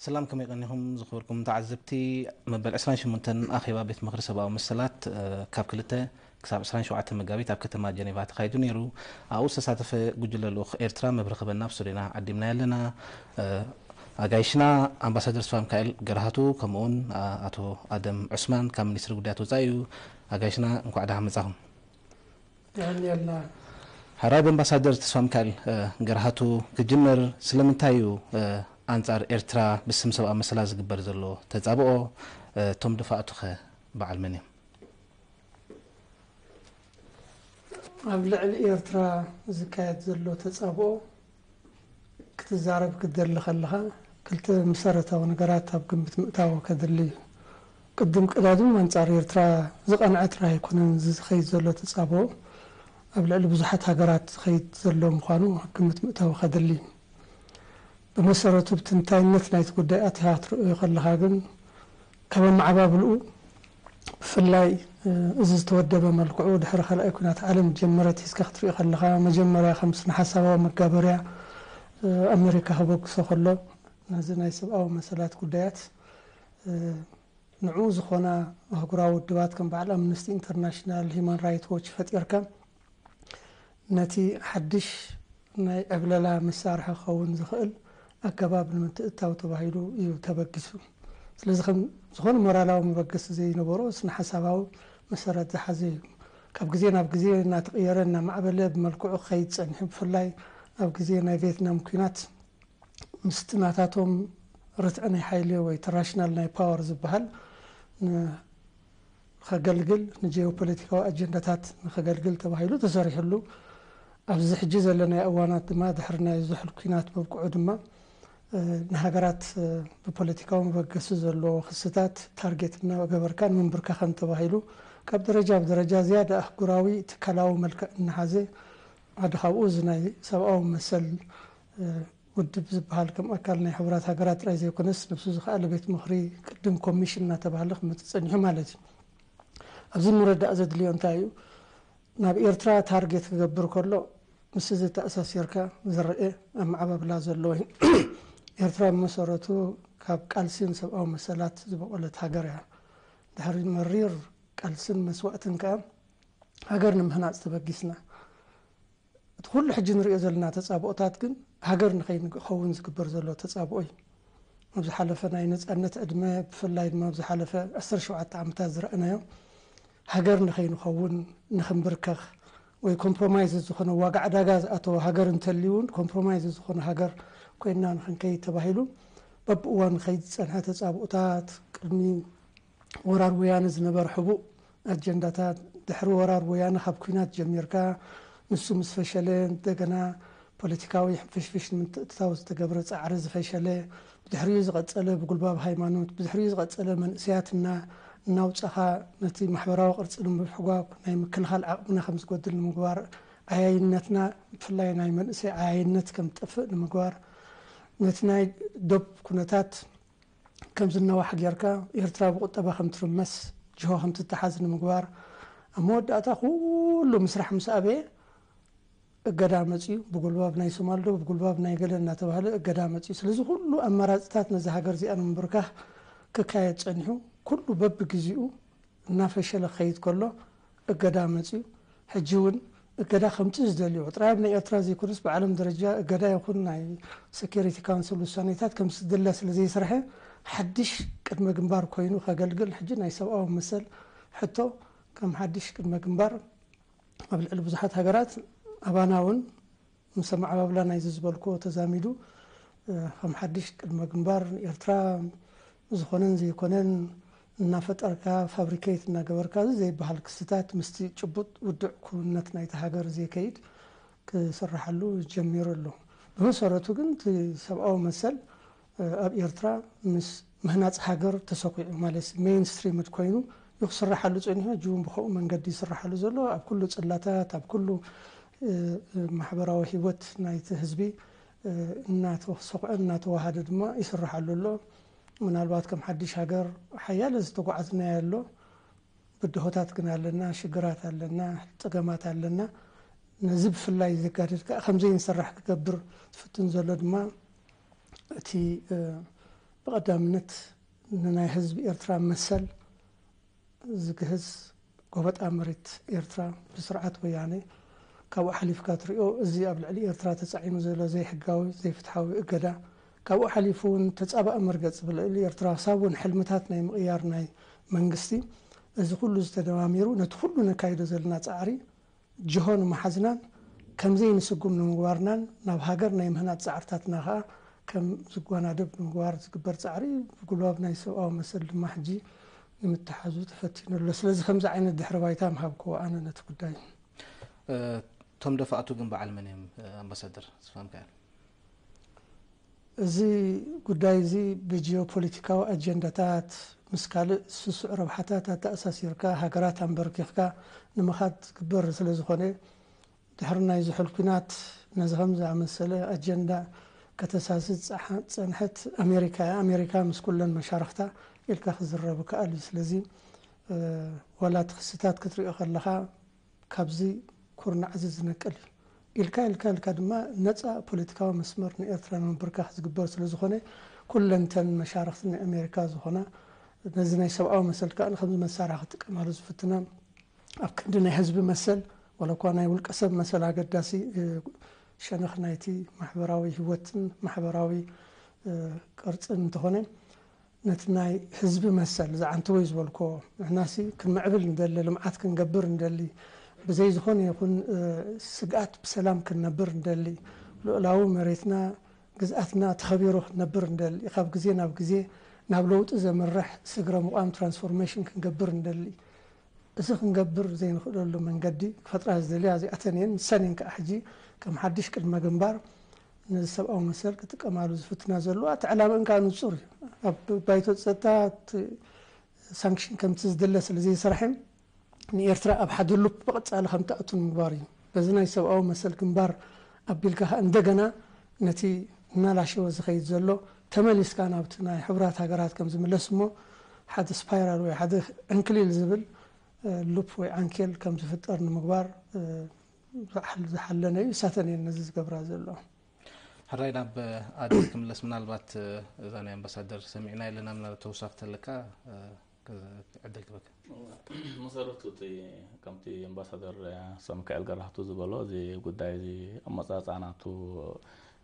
ሰላም ከመይ ቀኒኹም ዝኽብርኩም ተዓዘብቲ መበል ዕስራን ሸሞንተን ኣኼባ ቤት ምኽሪ ሰብኣዊ መሰላት ካብ ክልተ ክሳብ ዕስራን ሸውዓተን መጋቢት ኣብ ከተማ ጀኔቫ ተኻይዱ ነይሩ ኣብኡ ዝተሳተፈ ጉጅለ ልኡኽ ኤርትራ መብርሂ ክህበና ኣብ ስቱድዮና ዓዲምናዮ ኣለና ኣጋይሽና ኣምባሳደር ስፋምካኤል ገርሃቱ ከምኡውን ኣቶ ኣደም ዑስማን ካብ ሚኒስትሪ ጉዳያት ወፃኢ እዩ ኣጋይሽና እንኳዕ ደሓን መፃኹም ሐራይ በምባሳደር ተስፋሚካኤል ገርሃቱ ክጅምር ስለምንታይ እዩ ኣንጻር ኤርትራ ብስም ሰብኣዊ መሰላት ዝግበር ዘሎ ተጻብኦ እቶም ደፋእቱኸ በዓል መን እዮም? ኣብ ልዕሊ ኤርትራ ዝካየድ ዘሎ ተጻብኦ ክትዛረብ ክትደሊ ከለኻ ክልተ መሰረታዊ ነገራት ኣብ ግምት ምእታው ከድሊ እዩ። ቅድም ቀዳድም ኣንጻር ኤርትራ ዝቐንዐ ጥራይ ኣይኮነን እዚ ዝኸይድ ዘሎ ተጻብኦ ኣብ ልዕሊ ብዙሓት ሃገራት ዝኸይድ ዘሎ ምዃኑ ኣብ ግምት ምእታው ከድሊ እዩ። ብመሰረቱ ብትንታይነት ናይቲ ጉዳይ ኣቲኻ ክትርእዮ ከለኻ ግን ካብ ኣመዓባብልኡ ብፍላይ እዚ ዝተወደበ መልክዑ ድሕሪ ካልኣይ ኲናት ዓለም ዝጀመረ ኣትሒዝካ ክትሪኦ ከለኻ መጀመርያ ከም ስነ-ሓሳባዊ መጋበርያ ኣመሪካ ከበግሶ ከሎ ነዚ ናይ ሰብኣዊ መሰላት ጉዳያት ንዕኡ ዝኾና ኣህጉራዊ ውድባት ከም በዓል ኣምነስቲ ኢንተርናሽናል፣ ሂዩማን ራይት ዎች ፈጢርካ ነቲ ሓድሽ ናይ ዕብለላ መሳርሒ ክኸውን ዝኽእል ኣገባብ ንምትእትታው ተባሂሉ እዩ ተበጊሱ። ስለዚ ከም ዝኾነ ሞራላዊ መበገሲ ዘይነበሮ ስነ-ሓሳባዊ መሰረት ዝሓዘ እዩ። ካብ ግዜ ናብ ግዜ እናተቕየረ እናማዕበለ ብመልክዑ ክኸይድ ጸኒሑ። ብፍላይ ኣብ ግዜ ናይ ቬትናም ኲናት ምስቲ ናታቶም ርትዒ ናይ ሓይሊ ወይ ትራሽናል ናይ ፓወር ዝበሃል ን ኸገልግል ንጀዮፖለቲካዊ ኣጀንዳታት ንኸገልግል ተባሂሉ ተሰሪሑሉ ኣብዚ ሕጂ ዘለናዮ እዋናት ድማ ድሕሪ ናይ ዙሑል ኩናት ምብቅዑ ድማ ንሃገራት ብፖለቲካዊ መበገሲ ዘለዎ ክስታት ታርጌት እናገበርካ ንምንብርካኸን ተባሂሉ ካብ ደረጃ ብደረጃ ዝያዳ ኣህጉራዊ ትካላዊ መልክዕ እናሓዘ ሓደ ካብኡ እዚ ናይ ሰብኣዊ መሰል ውድብ ዝበሃል ከም ኣካል ናይ ሕቡራት ሃገራት ጥራይ ዘይኮነስ ነብሱ ዝኸኣለ ቤት ምኽሪ፣ ቅድም ኮሚሽን እናተባህለ ክመጽእ ጸኒሑ ማለት እዩ። ኣብዚ ምርዳእ ዘድልዮ እንታይ እዩ? ናብ ኤርትራ ታርጌት ክገብር ከሎ ምስ እዚ ተኣሳሲርካ ዝረኤ ኣመዓባብላ ዘሎ እዩ። ኤርትራ ብመሰረቱ ካብ ቃልሲን ሰብኣዊ መሰላት ዝቦቖለት ሃገር እያ። ድሕሪ መሪር ቃልስን መስዋእትን ከኣ ሃገር ንምህናጽ ተበጊስና። እቲ ኩሉ ሕጂ ንርእዮ ዘለና ተጻብኦታት ግን ሃገር ንኸይንከውን ዝግበር ዘሎ ተጻብኦ እዩ። ኣብ ዝሓለፈ ናይ ነጻነት ዕድመ ብፍላይ ድማ ኣብ ዝሓለፈ ዕስርተ ሸውዓተ ዓመታት ዝረኣናዮ ሃገር ንኸይንኸውን ንኽንብርከኽ ወይ ኮምፕሮማይዝ ዝኾነ ዋጋ ዕዳጋ ዝኣተወ ሃገር እንተልዩ እውን ኮምፕሮማይዝ ዝኾነ ሃገር ኮይና ንኽንከይድ ተባሂሉ በብእዋኑ ዝኸይድ ዝጸንሐ ተጻብኦታት ቅድሚ ወራር ወያነ ዝነበረ ሕቡእ ኣጀንዳታት፣ ድሕሪ ወራር ወያነ ካብ ኲናት ጀሚርካ ንሱ ምስ ፈሸለ እንደገና ፖለቲካዊ ሕንፍሽፍሽ ንምትእትታው ዝተገብረ ጻዕሪ ዝፈሸለ፣ ብድሕሪኡ ዝቐጸለ ብጉልባብ ሃይማኖት፣ ብድሕሪኡ ዝቐጸለ መንእሰያት እና እናውጻኻ ነቲ ማሕበራዊ ቅርጺ ንምብሕጓግ ናይ ምክልኻል ዓቕምና ከም ዝጎድል ንምግባር፣ ዓያይነትና ብፍላይ ናይ መንእሰይ ዓያይነት ከም ዝጠፍእ ንምግባር፣ ነቲ ናይ ዶብ ኩነታት፣ ከም ዝናዋሕ ጌርካ ኤርትራ ብቁጠባ ከም ትርመስ ጅሆ ከም ትተሓዝ ንምግባር ኣብ መወዳእታ ኩሉ ምስራሕ ምስ ኣበየ እገዳ መጽዩ ብጉልባብ ናይ ሶማል ዶ ብጉልባብ ናይ ገለ እናተባህለ እገዳ መጽዩ ስለዚ ኩሉ ኣማራጽታት ነዛ ሃገር እዚኣ ንምብርካኽ ክካየድ ጸኒሑ ኩሉ በብግዜኡ እናፈሸለ ክኸይድ ከሎ እገዳ መጺኡ። ሕጂ እውን እገዳ ከምጽእ ዝደልዩ ጥራይ ኣብ ናይ ኤርትራ ዘይኮነስ ብዓለም ደረጃ እገዳ ይኹን ናይ ሰክዩሪቲ ካውንስል ውሳኔታት ከም ዝድለ ስለ ዘይስርሐ ሓድሽ ቅድመ ግንባር ኮይኑ ከገልግል ሕጂ ናይ ሰብኣዊ መሰል ሕቶ ከም ሓድሽ ቅድመ ግንባር ኣብ ልዕሊ ብዙሓት ሃገራት ኣባና እውን ምስ ኣመዓባብላ ናይዚ ዝበልክዎ ተዛሚዱ ከም ሓድሽ ቅድመ ግንባር ንኤርትራ ዝኾነን ዘይኮነን እናፈጠርካ ፋብሪከይት እናገበርካ እዚ ዘይበሃል ክስታት ምስቲ ጭቡጥ ውዱዕ ክውንነት ናይታ ሃገር ዘይከይድ ክስረሓሉ ጀሚሩ ኣሎ። ብመሰረቱ ግን እቲ ሰብኣዊ መሰል ኣብ ኤርትራ ምስ ምህናጽ ሃገር ተሰዂዑ ማለትሲ ሜይንስትሪምድ ኮይኑ ዩ ክስራሓሉ ጸኒሑ ሕጂውን ብኸምኡ መንገዲ ይስራሓሉ ዘሎ ኣብ ኩሉ ጽላታት ኣብ ኩሉ ማሕበራዊ ሂወት ናይቲ ህዝቢ እናተሰዂዐን እናተዋሃደ ድማ ይስራሓሉ ኣሎ ምናልባት ከም ሓዲሽ ሃገር ሓያለ ዝተጓዓዝናዮ ኣሎ ብድሆታት ግን ኣለና ሽግራት ኣለና ጸገማት ኣለና ነዚ ብፍላይ ዘጋድድ ከኣ ከምዘይንስራሕ ክገብር ዝፍትን ዘሎ ድማ እቲ ብቐዳምነት ንናይ ህዝቢ ኤርትራ መሰል ዝግህስ ጎበጣ መሬት ኤርትራ ብስርዓት ወያኔ ካብኡ ሓሊፍካ ትሪኦ እዚ ኣብ ልዕሊ ኤርትራ ተጻዒኑ ዘሎ ዘይሕጋዊ ዘይፍትሓዊ እገዳ ካብኡ ሓሊፉ እውን ተጻባኢ መርገጽ ብልዕሊ ኤርትራ ክሳብ እውን ሕልምታት ናይ ምቕያር ናይ መንግስቲ እዚ ኩሉ እዚ ተደማሚሩ ነቲ ኩሉ ነካይዶ ዘለና ጻዕሪ ጅሆ ንምሓዝናን ከምዘይ ንስጉም ንምግባርናን ናብ ሃገር ናይ ምህናጽ ጻዕርታትና ከኣ ከም ዝጓናደብ ንምግባር ዝግበር ጻዕሪ ብጉልባብ ናይ ሰብኣዊ መሰል ድማ ሕጂ ንምትሓዙ ተፈቲኑ ኣሎ። ስለዚ ከምዚ ዓይነት ድሕሪ ባይታ ምሃብክዎ ኣነ ነቲ ጉዳይ። እቶም ደፋእቱ ግን በዓል መን እዮም ኣምባሳደር ዝፋምካኤል? እዚ ጉዳይ እዚ ብጂኦፖሊቲካዊ ኣጀንዳታት፣ ምስ ካልእ ስሱዕ ረብሓታት ኣተኣሳሲርካ ሃገራት ኣምበርኪኽካ ንምኻድ ዝግበር ስለ ዝኾነ፣ ድሕሪ ናይ ዝሑል ኲናት ነዚ ከም ዝኣመሰለ ኣጀንዳ ከተሳስዝ ዝጸንሐት ኣሜሪካ እያ። ኣሜሪካ ምስ ኩለን መሻርኽታ ኢልካ ክዝረብ ይከኣል እዩ። ስለዚ ዋላ እቲ ክስታት ክትሪኦ ከለኻ ካብዚ ኩርናዕዚ ዝነቅል እዩ። ኢልካ ኢልካ ኢልካ ድማ ነጻ ፖለቲካዊ መስመር ንኤርትራ ንምብርካኽ ዝግበር ስለ ዝኾነ፣ ኩለን እተን መሻርኽቲ ናይ ኣሜሪካ ዝኾና፣ ነዚ ናይ ሰብኣዊ መሰል ከኣ ከምዚ መሳርሒ ክጥቀማሉ ዝፍትና፣ ኣብ ክንዲ ናይ ህዝቢ መሰል፣ ዋላ እኳ ናይ ውልቀ ሰብ መሰል ኣገዳሲ ሸነኽ ናይቲ ማሕበራዊ ህይወትን ማሕበራዊ ቅርጽን እንተኾነ፣ ነቲ ናይ ህዝቢ መሰል ዝዓንተወ'ዩ ዝበልኩዎ፣ ንሕናሲ ክንምዕብል ንደሊ፣ ልምዓት ክንገብር ንደሊ፣ ብዘይ ዝኾነ ይኹን ስግኣት ብሰላም ክንነብር ንደሊ፣ ሉእላዊ መሬትና ግዝኣትና ተኸቢሩ ክንነብር ንደሊ፣ ካብ ግዜ ናብ ግዜ ናብ ለውጢ ዘምርሕ ስግረ ምቛም ትራንስፎርሜሽን ክንገብር ንደሊ፣ እዚ ክንገብር ዘይንኽእለሉ መንገዲ ክፈጥራ ዝደልያ እዚኣተን እየን፣ ንሰን እየን ከኣ ሕጂ ከም ሓድሽ ቅድመ ግንባር ነዚ ሰብኣዊ መሰል ክጥቀማሉ ዝፍትና ዘለዋ እቲ ዕላመኣን ከኣ ንጹር እዩ። ኣብ ባይቶ ጸጥታ እቲ ሳንክሽን ከምቲ ዝድለ ስለ ዘይሰራሕም ንኤርትራ ኣብ ሓደ ሉፕ ብቐጻሊ ከም ትኣቱ ንምግባር እዩ። በዚ ናይ ሰብኣዊ መሰል ግንባር ኣቢልካ ከኣ እንደገና ነቲ እናላሸወ ዝኸይድ ዘሎ ተመሊስካ ናብቲ ናይ ሕቡራት ሃገራት ከም ዝምለስ እሞ ሓደ ስፓይራል ወይ ሓደ ዕንክሊል ዝብል ሉፕ ወይ ዓንኬል ከም ዝፍጠር ንምግባር ዝሓለነ እዩ እሳተን እየን ነዚ ዝገብራ ዘለዋ። ሕራይ ናብ ኣድስ ክምለስ ምናልባት እዛ ናይ ኣምባሳደር ሰሚዕና የለና ምናልባት ተውሳክ ተለካ ዕድል ክበክ መሰረቱ እቲ ከምቲ ኣምባሳደር ሰምካኤል ገራህቱ ዝበሎ እዚ ጉዳይ እዚ ኣመፃፃናቱ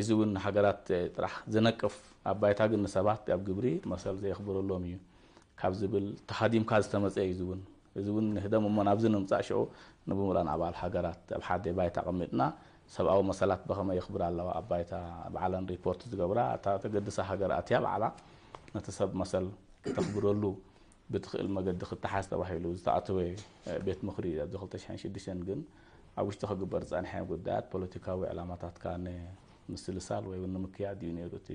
እዚ ውን ንሃገራት ጥራሕ ዝነቅፍ ኣብ ባይታ ግን ንሰባት ኣብ ግብሪ መሰል ዘየኽብረሎም ኢዩ ካብ ዝብል ተሃዲምካ ዝተመጸ ኢዩ እዚ ውን እዚ ውን ንህደም እሞ ናብዚ ንምጻእ ሽዑ ንብሙሉኣን ኣባል ሃገራት ኣብ ሓደ ባይታ ኣቐሚጥና ሰብኣዊ መሰላት በኸመይ የኽብራ ኣለዋ ኣብ ባይታ ባዕለን ሪፖርት ዝገብራ እታ ተገድሳ ሃገር ኣትያ ባዕላ ነቲ ሰብ መሰል ክተኽብረሉ ብትኽእል መገዲ ክተሓዝ ተባሂሉ ዝተኣተወ ቤት ምኽሪ ኢዩ ኣብዚ ክልተ ሽሕን ሽዱሽተን ግን ኣብ ውሽጢ ክግበር ዝጸንሐ ጉዳያት ፖለቲካዊ ዕላማታትካ ንምስልሳል ወይ እውን ንምክያድ እዩ ነይሩ እቲ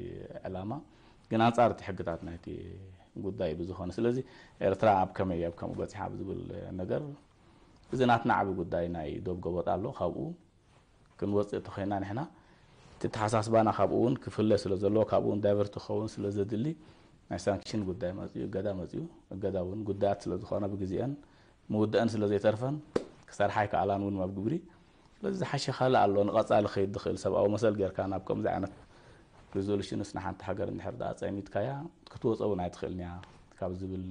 ዕላማ ግን ኣንጻር እቲ ሕግታት ናይቲ ጉዳይ ብዝኾነ ስለዚ ኤርትራ ኣብ ከመይ ኣብ ከምኡ በጺሓ ኣብ ዝብል ነገር እዚ ናትና ዓቢ ጉዳይ ናይ ዶብ ገበጥ ኣሎ ካብኡ ክንወጽእ ተኾይና ንሕና እቲ ተሓሳስባና ካብኡ እውን ክፍለ ስለ ዘለዎ ካብኡ እውን ዳይቨርት ክኸውን ስለ ዘድሊ ናይ ሳንክሽን ጉዳይ መፅኡ እገዳ መፅኡ እገዳ እውን ጉዳያት ስለ ዝኾነ ብግዜአን ምውደኣን ስለ ዘይተርፈን ክሰርሓ ኣይከኣላን እውን ኣብ ግብሪ ስለዚ ዝሓሸ ካልእ ኣሎ ንቐፃሊ ክኸይድ ዝኽእል ሰብኣዊ መሰል ጌርካ ናብ ከምዚ ዓይነት ሪዞሉሽንስ ንሓንቲ ሃገር እንድሕር ድኣ ፀሚድካያ ክትወፀ እውን ኣይትኽእልን እያ ካብ ዝብል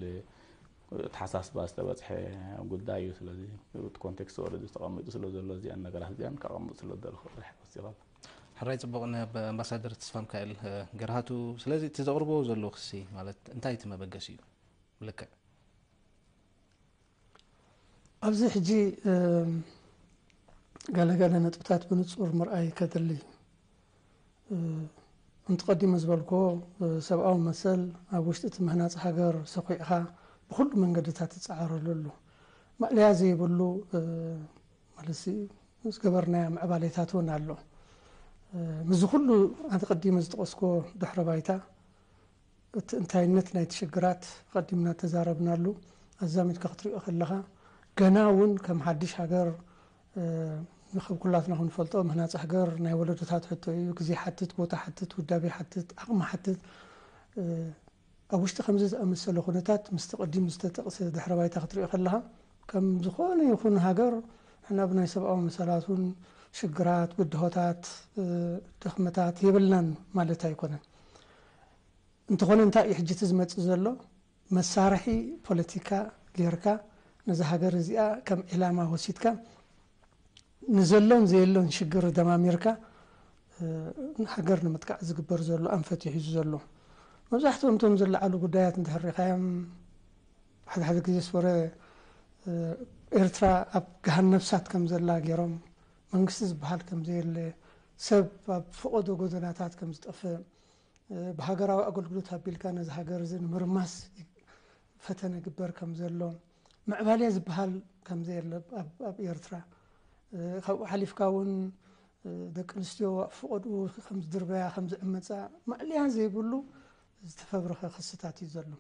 ተሓሳስባ ዝተበፅሐ ጉዳይ እዩ ስለዚ እቲ ኮንቴክስት ወረዲ ተቐሚጡ ስለ ዘሎ እዚኣን ነገራት እዚኣን ከቐምጥ ስለ ዝደለኹ ጥራሕ ወሲኻ ሕራይ ፅቡቕ ንኣምባሳደር ተስፋምካኤል ገርሃቱ ስለዚ እቲ ዘቕርቦ ዘሎ ክሲ ማለት እንታይ እቲ መበገሲ እዩ ብልክዕ ኣብዚ ሕጂ ገለ ገለ ነጥብታት ብንጹር ምርኣይ ከድሊ እዩ። እንቲ ቀዲሙ ዝበልክዎ ሰብኣዊ መሰል ኣብ ውሽጢ እቲ ምህናጽ ሃገር ሰዂዕኻ ብኹሉ መንገድታት ትጸዓረሉ ኣሉ ማእለያ ዘይብሉ ማለት ዝገበርናዮ ምዕባሌታት እውን ኣሎ። ምስዚ ኩሉ ኣንተ ቀዲመ ዝጠቐስክዎ ድሕረ ባይታ እቲ እንታይነት ናይቲ ሽግራት ኣቐዲምና እተዛረብናሉ፣ ኣዛሚድካ ክትርእዮ ከለኻ፣ ገና እውን ከም ሓድሽ ሃገር ንክብ ኩላትና ክንፈልጦ፣ ምህናጽ ሃገር ናይ ወለዶታት ሕቶ እዩ፣ ግዜ ይሓትት፣ ቦታ ይሓትት፣ ውዳቤ ይሓትት፣ ዓቕሚ ይሓትት። ኣብ ውሽጢ ከምዚ ዝኣመሰለ ኩነታት፣ ምስቲ ቅዲም ዝተጠቕሰ ድሕረ ባይታ ክትርእዮ ከለኻ፣ ከም ዝኾነ ይኹን ሃገር ንሕና ብናይ ሰብኣዊ መሰላት እውን ሽግራት፣ ብድሆታት፣ ድኽመታት የብልናን ማለት ኣይኮነን። እንተኾነ እንታይ እዩ ሕጂ እቲ ዝመጽእ ዘሎ መሳርሒ ፖለቲካ ጌርካ ነዛ ሃገር እዚኣ ከም ዒላማ ወሲድካ ንዘሎን ዘየሎን ሽግር ደማሚርካ ሃገር ንምጥቃዕ ዝግበር ዘሎ ኣንፈት እዩ ሒዙ ዘሎ። መብዛሕትኦም እቶም ዝለዓሉ ጉዳያት እንድሕር ሪእኻዮም ሓደ ሓደ ግዜስ ወረ ኤርትራ ኣብ ገሃነብ እሳት ከም ዘላ ጌሮም መንግስቲ ዝበሃል ከም ዘየለ ሰብ ኣብ ፈቖዶ ጎደናታት ከም ዝጠፍእ ብሃገራዊ ኣገልግሎት ኣቢልካ ነዚ ሃገር እዚ ንምርማስ ፈተነ ይግበር ከም ዘሎ ምዕባሌ ዝበሃል ከም ዘየለ ኣብ ኤርትራ ካብኡ ሓሊፍካ እውን ደቂ ኣንስትዮ ኣብ ፍቐድኡ ከም ዝድርበያ ከም ዝዕመፃ ማእለያ ዘይብሉ ዝተፈብረኸ ክስታት እዩ ዘሎ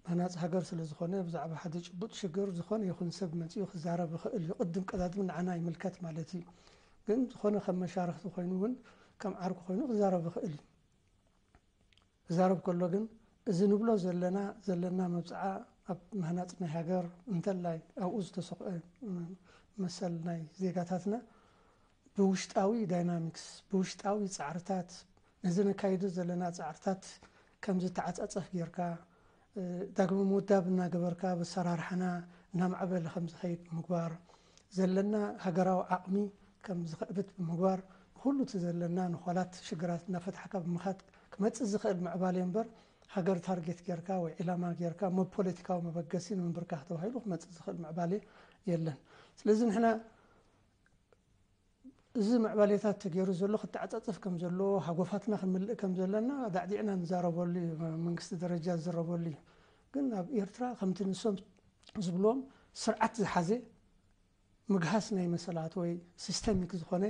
ሃናጺ ሃገር ስለ ዝኾነ ብዛዕባ ሓደ ጭቡጥ ሽግር ዝኾነ ይኹን ሰብ መጺኡ ክዛረብ ይኽእል እዩ ቅድም ቀዳድም ንዓና ይምልከት ማለት እዩ ግን ዝኾነ ከም መሻርኽቲ ኮይኑ እውን ከም ዓርኩ ኮይኑ ክዛረብ ይኽእል እዩ ክዛረብ ከሎ ግን እዚ ንብሎ ዘለና ዘለና መብፅዓ ኣብ ምህናፅ ናይ ሃገር እንተላይ ኣብኡ ዝተሰክዐ መሰል ናይ ዜጋታትና ብውሽጣዊ ዳይናሚክስ፣ ብውሽጣዊ ጻዕርታት፣ ነዚ ነካይዶ ዘለና ጻዕርታት ከም ዝተዓጻጸፍ ጌርካ፣ ዳግመ ምውዳብ እናገበርካ ኣብ ኣሰራርሓና እናማዕበለ ከም ዝኸይድ ብምግባር፣ ዘለና ሃገራዊ ዓቕሚ ከም ዝኸእብት ብምግባር፣ ንኹሉ እቲ ዘለና ነዃላት ሽግራት እናፈታሕካ ብምኻድ ክመጽእ ዝኸእል ምዕባሌ እምበር፣ ሃገር ታርጌት ጌርካ ወይ ዒላማ ጌርካ ብ ፖለቲካዊ መበገሲ ንምብርካኽ ተባሂሉ ክመጽእ ዝኸእል ምዕባሌ የለን። ስለዚ ንሕና እዚ ምዕባሌታት ተገይሩ ዘሎ ክተዓጻጸፍ ከም ዘለዎ፣ ሃጎፋትና ክንምልእ ከም ዘለና ኣዳዕዲዕና ንዛረበሉ እዩ፣ ኣብ መንግስቲ ደረጃ ዝዝረበሉ እዩ። ግን ኣብ ኤርትራ ከምቲ ንሶም ዝብልዎም ስርዓት ዝሓዘ ምግሃስ ናይ መሰላት ወይ ሲስተሚክ ዝኾነ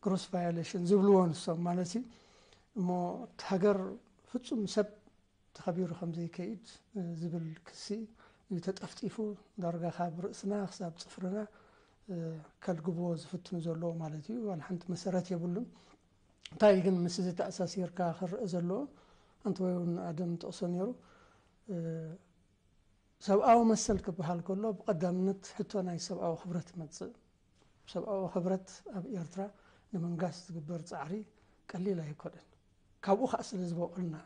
ግሮስ ቫዮሌሽን ዝብልዎ ንሶም ማለት እዩ እሞ እቲ ሃገር ፍጹም ሰብ ተኸቢሩ ከም ዘይከይድ ዝብል ክሲ እዩ ተጠፍጢፉ ዳርጋ ካብ ርእስና ክሳብ ጽፍርና ከልግብዎ ዝፍትኑ ዘለዉ ማለት እዩ። ዋላ ሓንቲ መሰረት የብሉን። እንታይ እዩ ግን ምስዚ ተኣሳሲርካ ክረኣ ዘለዎ ኣንተወይ እውን ኣደም ይጠቕሶ ነይሩ ሰብኣዊ መሰል ክበሃል ከሎ ብቐዳምነት ሕቶ ናይ ሰብኣዊ ክብረት ይመጽእ። ሰብኣዊ ክብረት ኣብ ኤርትራ ንምንጋስ ዝግበር ጻዕሪ ቀሊል ኣይኮነን። ካብኡ ከኣ ስለ ዝበቆልና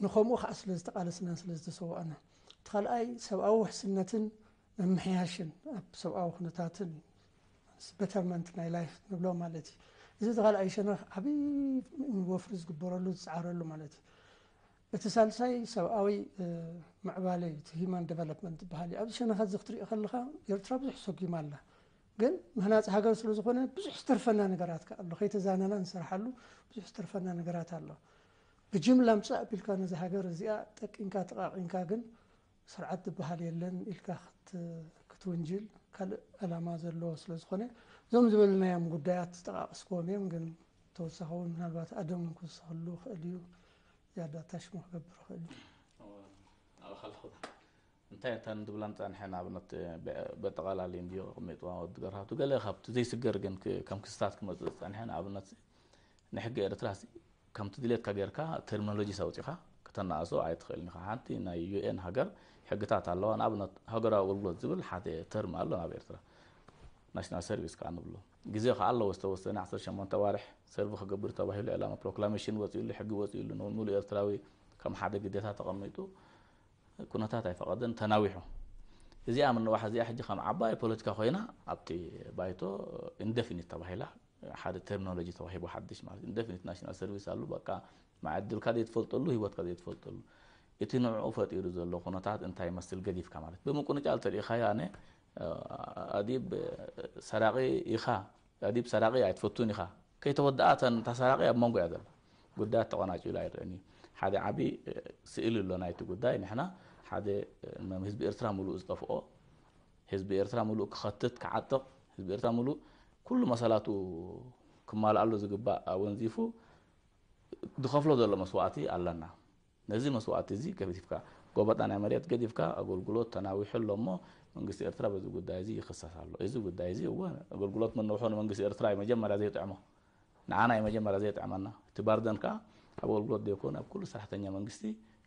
ንከምኡ ከኣ ስለ ዝተቃለስናን ስለ ዝተሰዋእናን እቲ ካልኣይ ሰብኣዊ ውሕስነትን ምምሕያሽን ኣብ ሰብኣዊ ኩነታትን በተርመንት ናይ ላይፍ ንብሎ ማለት እዩ እዚ እቲ ካልኣይ ሸነኽ ዓብዪ ወፍሪ ዝግበረሉ ዝፀዓረሉ ማለት እዩ እቲ ሳልሳይ ሰብኣዊ ምዕባለ እዩ፣ እቲ ሂዩማን ደቨሎፕመንት ዝበሃል እዩ። ኣብዚ ሸነኻት እዚ ክትሪኦ ከለኻ ኤርትራ ብዙሕ ሰጉማ ኣላ። ግን ምህናጽ ሃገር ስለ ዝኾነ ብዙሕ ዝተርፈና ነገራት ከኣ ኣሎ። ከይተዛነና ንሰርሓሉ ብዙሕ ዝተርፈና ነገራት ኣሎ። ብጅምላ ምጻእ ኣቢልካ ነዛ ሃገር እዚኣ ጠቂንካ ተቓቒንካ ግን ስርዓት ዝብሃል የለን ኢልካ ክትውንጅል ካልእ ዕላማ ዘለዎ ስለ ዝኾነ እዞም ዝበልናዮም ጉዳያት ዝጠቓቐስክዎም እዮም ግን ተወሳኺ እውን ምናልባት ኣደም እውን ክውሰኸሉ ይኽእል እዩ ዝያዳ ኣታሽሞ ክገብር ይኽእል እዩ እንታይ እታ ንድብላን ፃንሐን ኣብነት በጠቓላሊ እንድዮ ቅሚጥዋ ወዲ ገርሃቱ ገለ ካብቲ ዘይስገር ግን ከም ክስታት ክመፅእ ዝፀንሐ ንኣብነት ናይ ሕጊ ኤርትራሲ ከምቲ ድሌትካ ጌርካ ተርሚኖሎጂስ ኣውጺኻ ከተናእሶ ኣይትኽእልን ኢኻ። ሓንቲ ናይ ዩኤን ሃገር ሕግታት ኣለዋ። ንኣብነት ሃገራዊ ኣገልግሎት ዝብል ሓደ ተርሚ ኣሎ ናብ ኤርትራ ናሽናል ሰርቪስ ከዓ ንብሎ ግዜ ከዓ ኣለዎ ዝተወሰነ 18 ኣዋርሕ ሰርቪ ክገብር ተባሂሉ ዕላማ ፕሮክላሜሽን ወፂኡሉ ሕጊ ወፂኡሉ ንሙሉ ኤርትራዊ ከም ሓደ ግዴታ ተቐሚጡ ኩነታት ኣይፈቐደን ተናዊሑ እዚኣ ምንዋሕ እዚኣ ሕጂ ከም ዓባይ ፖለቲካ ኮይና ኣብቲ ባይቶ ኢንደፊኒት ተባሂላ ሓደ ተርሚኖሎጂ ተዋሂቡ ሓድሽ ማለት ኢንደፊኒት ናሽናል ሰርቪስ ኣሉ በቃ መዓድልካ ዘይትፈልጠሉ ህይወትካ ዘይትፈልጠሉ እቲ ንዕኡ ፈጢሩ ዘሎ ኩነታት እንታይ ይመስል ገዲፍካ ማለት ብምቁንጫል ተሪኢኻዮ ኣነ ኣዲብ ሰራቂ ኢኻ ኣዲብ ሰራቂ ኣይትፈቱን ኢኻ ከይተወድኣ እተን እታ ሰራቂ ኣብ መንጎ እያ ዘላ ጉዳያት ተቆናጭሉ ኣይረአን እዩ ሓደ ዓቢ ስእሊ ኣሎ ናይቲ ጉዳይ ንሕና ሓደ ህዝቢ ኤርትራ ሙሉእ ዝጠፍኦ ህዝቢ ኤርትራ ምሉእ ክኸትት ክዓጥቕ፣ ህዝቢ ኤርትራ ምሉእ ኩሉ መሰላቱ ክማልኣሉ ዝግባእ ኣወንዚፉ ዝኸፍሎ ዘሎ መስዋእቲ ኣለና። ነዚ መስዋእቲ'ዚ ገዲፍካ፣ ጎበጣ ናይ መሬት ገዲፍካ ኣገልግሎት ተናዊሑ ኣሎ'ሞ መንግስቲ ኤርትራ በዚ ጉዳይ'ዚ ይኽሰስ ኣሎ። እዚ ጉዳይ'ዚ እወ ኣገልግሎት ምንውሑ ንመንግስቲ ኤርትራ'ዩ መጀመርያ ዘይጥዕሞ። ንዓና እዩ መጀመርያ ዘየጥዕመና እቲ ባርደን ከኣ ኣብ ኣገልግሎት ዘይኮነ ኣብ ኩሉ ሰራሕተኛ መንግስቲ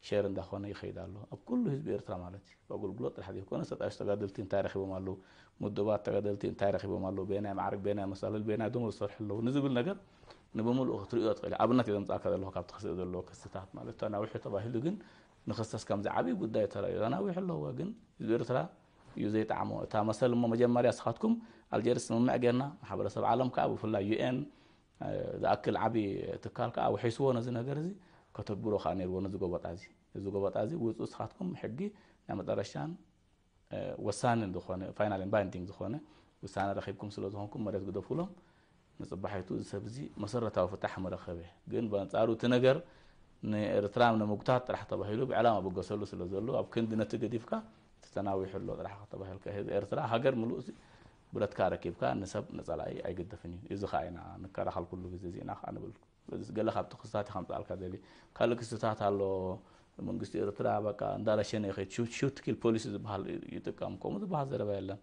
ሸር እንዳኾነ ይኸይድ ኣሎ ኣብ ኩሉ ህዝቢ ኤርትራ ማለት እዩ ብኣገልግሎት ጥራሕ ዘይኮነስ ተጣየሹ ተጋደልቲ እንታይ ረኺቦም ኣለዉ ምዱባት ተጋደልቲ እንታይ ረኺቦም ኣለዉ በየናይ ማዕርግ በየናይ መሳለል በየናይ ደሞዝ ዝሰርሑ ኣለዉ ንዝብል ነገር ንብምልኡ ክትርእዮ ትኽእል ኣብነት እዩ ዘምጻእካ ዘለኹ ካብ ተኸስኦ ዘለዎ ክስታት ማለት ተናዊሑ ተባሂሉ ግን ንክሰስ ከምዚ ዓብዪ ጉዳይ ተራእዩ ኣናዊሑ ኣለዎ ግን ህዝቢ ኤርትራ እዩ ዘይጠዓሞ እታ መሰል እሞ መጀመርያ እስኻትኩም ኣልጀርስ ስምምዕ ጌርና ማሕበረሰብ ዓለም ከዓ ብፍላይ ዩኤን ዝኣክል ዓብዪ ትካል ከዓ ውሒስዎ ነዚ ነገር እዚ ከተግብሮ ከዓ ነይርዎ ነዚ ጎበጣ እዚ እዚ ጎበጣ እዚ ውፅኡ እስኻትኩም ሕጊ ናይ መጠረሻን ወሳንን ዝኾነ ፋይናል ባይንዲንግ ዝኾነ ውሳነ ረኺብኩም ስለ ዝኾንኩም መሬት ግደፉሎም ንጽባሒቱ እዚ ሰብ'ዚ መሰረታዊ ፍታሕ ምረኸበ። ግን ብኣንጻሩ እቲ ነገር ንኤርትራ ንምጉታት ጥራሕ ተባሂሉ ብዕላማ ብገሰሉ ስለ ዘሎ ኣብ ክንዲ ነቲ ገዲፍካ እቲ ተናዊሑ ኣሎ ጥራሕ ከተባሂልካ እዩ። ህዝቢ ኤርትራ ሃገር ምሉእ'ሲ ብረትካ ኣረኪብካ ንሰብ ንጸላኢ ኣይግደፍን እዩ። እዚ ከኣ ኢና ንከላኸል ኩሉ ግዜ እዚ ኢና ከኣ ንብል። ስለዚስ ገለ ካብቲ ክስታት እየ ከምጽኣልካ ደልየ። ካልእ ክስታት ኣሎ መንግስቲ ኤርትራ በቃ እንዳረሸነ ይኸይድ፣ ሹት ኪል ፖሊሲ ዝበሃል ይጥቀም ከምኡ ዝበሃል ዘረባ የለን።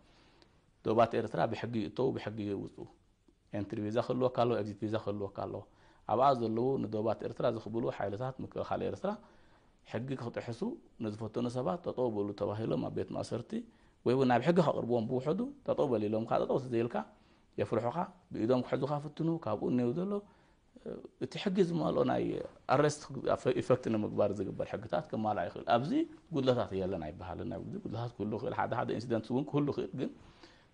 ዶባት ኤርትራ ብሕጊ ይእተዉ ብሕጊ ይውጹ። ኤንትሪ ቪዛ ክህልወካ ኣለዎ ኤግዚት ቪዛ ክህልወካ ኣለዎ። ኣብኣ ዘለዉ ንዶባት ኤርትራ ዝኽብሉ ሓይልታት ምክልኻል ኤርትራ ሕጊ ክጥሕሱ ንዝፈተኑ ሰባት ጠጠው በሉ ተባሂሎም ኣብ ቤት ማእሰርቲ ወይ ውን ናብ ሕጊ ከቕርብዎም ብውሕዱ ጠጠው በል ኢሎምካ ጠጠው ተዘይልካ የፍርሑኻ ብኢዶም ክሕዙኻ ፍትኑ ካብኡ ኔው ዘሎ እቲ ሕጊ ዝማልኦ ናይ ኣረስት ኢፈክት ንምግባር ዝግበር ሕግታት ክማላእ ይኽእል ኣብዚ ጉድለታት የለን ኣይበሃልን ኣብ ጉድለታት ክህሉ ይኽእል ሓደ ሓደ ኢንሲደንት እውን ክህሉ ይኽእል ግን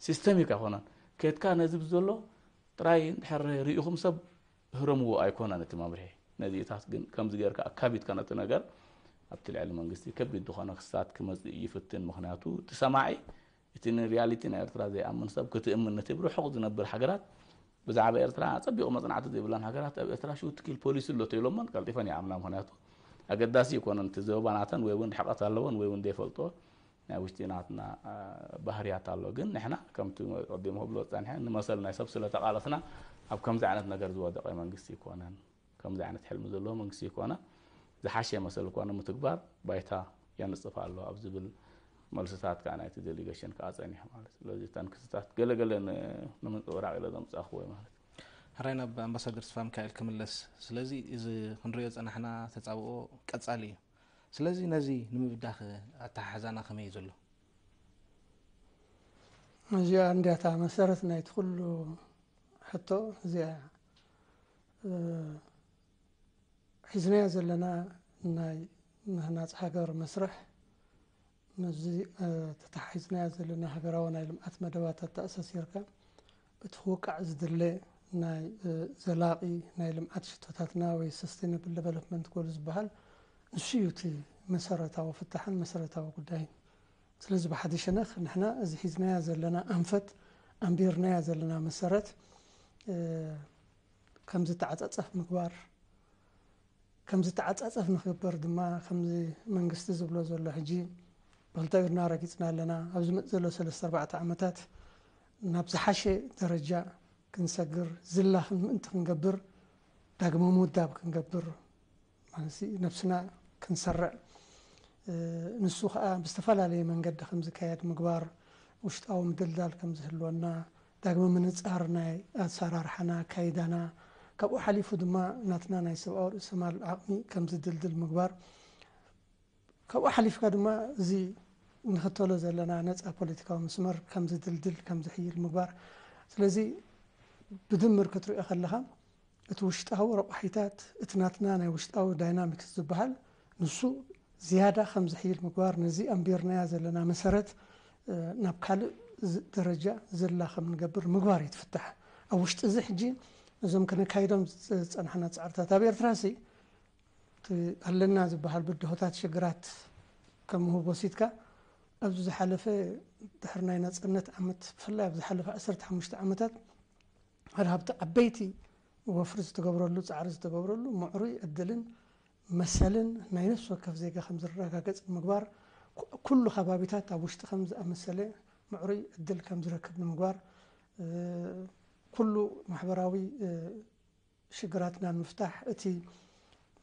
ሲስተሚክ ኣይኮነን ከትካ ነዚ ብዘሎ ጥራይ ድሕር ርኢኹም ሰብ ህረምዎ ኣይኮነን እቲ መምርሒ ነዚታት ግን ከምዚ ጌርካ ኣካቢትካ ነቲ ነገር ኣብቲ ልዕሊ መንግስቲ ከቢድ ዝኾነ ክስታት ክመፅእ ይፍትን ምክንያቱ እቲ ሰማዒ እቲ ን ሪያሊቲ ናይ ኤርትራ ዘይኣምን ሰብ ክትእምን ነቲ ብ ርሑቅ ዝነብር ሃገራት ብዛዕባ ኤርትራ ኣጸቢቁ መጽናዕቲ ዘይብለን ሃገራት ኣብ ኤርትራ ሹት ኪል ፖሊሲ ኣሎ ተኢሎመን ቀልጢፈን ይኣምና ምክንያቱ ኣገዳሲ ኣይኮነን እቲ ዘበባ ናተን ወይ ውን ርሕቀት ኣለወን ወይ ውን ዘይፈልጥኦ ናይ ውሽጢ ናትና ባህርያት ኣሎ ግን ንሕና ከምቲ ቀዲሙ ክብሎ ዝጸንሐ ንመሰል ናይ ሰብ ስለ ተቃለስና ኣብ ከምዚ ዓይነት ነገር ዝወደቀ መንግስቲ ኣይኮነን ከምዚ ዓይነት ሕልሚ ዘለዎ መንግስቲ ኮነ ዝሓሸ መሰል እኳ ንምትግባር ባይታ የንጽፍ ኣሎ ኣብ ዝብል መልስታት ከዓ ናይቲ ዴሊጌሽን ከዓ ፀኒሑ ማለት እዩ ስለዚ እተን ክስታት ገለገለ ንምንፅብራቅ ኢለ ዘምፃኹ ወይ ማለት ሕራይ ናብ ኣምባሳደር ተስፋ ሚካኤል ክምለስ ስለዚ እዚ ክንሪኦ ፀናሕና ተፃብኦ ቀፃሊ እዩ ስለዚ ነዚ ንምብዳኸ ኣተሓሕዛና ከመይ ዘሎ እዚኣ እንዲያታ መሰረት ናይቲ ኩሉ ሕቶ እዚኣ ሒዝናዮ ዘለና ናይ ምህናፅ ሃገር መስርሕ ምስዚ ተተሓሒዝናዮ ዘለና ሃገራዊ ናይ ልምዓት መደባት ኣተኣሳሲርካ እቲ ክውቃዕ ዝድለ ናይ ዘላቒ ናይ ልምዓት ሽቶታትና ወይ ሰስቴነብል ደቨሎፕመንት ጎል ዝበሃል ንሱ እዩ እቲ መሰረታዊ ፍታሕን መሰረታዊ ጉዳይን ስለዚ ብሓደ ሸነኽ ንሕና እዚ ሒዝናያ ዘለና ኣንፈት ኣንቢርናያ ዘለና መሰረት ከም ዝተዓጻጸፍ ምግባር ከም ዝተዓጻጸፍ ንክግበር ድማ ከምዚ መንግስቲ ዝብሎ ዘሎ ሕጂ ብክልተ ኢድና ረጊጽና ኣለና ኣብ ዝመጽእ ዘሎ ሰለስተ ኣርባዕተ ዓመታት ናብ ዝሓሸ ደረጃ ክንሰግር ዝላ ምእንቲ ክንገብር ዳግመ ምውዳብ ክንገብር ማለት ነብስና ክንሰርዕ ንሱ ከኣ ብዝተፈላለየ መንገዲ ከም ዝካየድ ምግባር፣ ውሽጣዊ ምድልዳል ከም ዝህልወና፣ ዳግመ ምንጻር ናይ ኣሰራርሓና፣ ኣካይዳና፣ ካብኡ ሓሊፉ ድማ ናትና ናይ ሰብኣዊ ርእሰማል ዓቕሚ ከም ዝድልድል ምግባር፣ ካብኡ ሓሊፍካ ድማ እዚ ንኽተሎ ዘለና ነጻ ፖለቲካዊ መስመር ከም ዝድልድል፣ ከም ዝሕይል ምግባር። ስለዚ ብድምር ክትሪኦ ከለኻ እቲ ውሽጣዊ ረቋሒታት፣ እቲ ናትና ናይ ውሽጣዊ ዳይናሚክስ ዝበሃል ንሱ ዝያዳ ከም ዝሕይል ምግባር፣ ነዚ ኣንቢርናዮ ዘለና መሰረት ናብ ካልእ ደረጃ ዝላ ከም እንገብር ምግባር እዩ እቲ ፍታሕ። ኣብ ውሽጢ እዚ ሕጂ ነዞም ከነካይዶም ዝጸናሕና ጻዕርታት ኣብ ኤርትራሲ እቲ ኣለና ዝበሃል ብድሆታት ሽግራት ከም ምህብ ወሲድካ ኣብዚ ዝሓለፈ ድሕሪ ናይ ናጽነት ዓመት ብፍላይ ኣብ ዝሓለፈ ዓሰርተ ሓሙሽተ ዓመታት ሓደ ካብቲ ዓበይቲ ወፍሪ ዝተገብረሉ ጻዕሪ ዝተገብረሉ ምዕሩይ ዕድልን መሰልን ናይ ነፍሲ ወከፍ ዜጋ ከም ዝረጋገጽ ንምግባር ኩሉ ከባቢታት ኣብ ውሽጢ ከም ዝኣመሰለ ምዕሩይ ዕድል ከም ዝረክብ ንምግባር ኩሉ ማሕበራዊ ሽግራትና ንምፍታሕ እቲ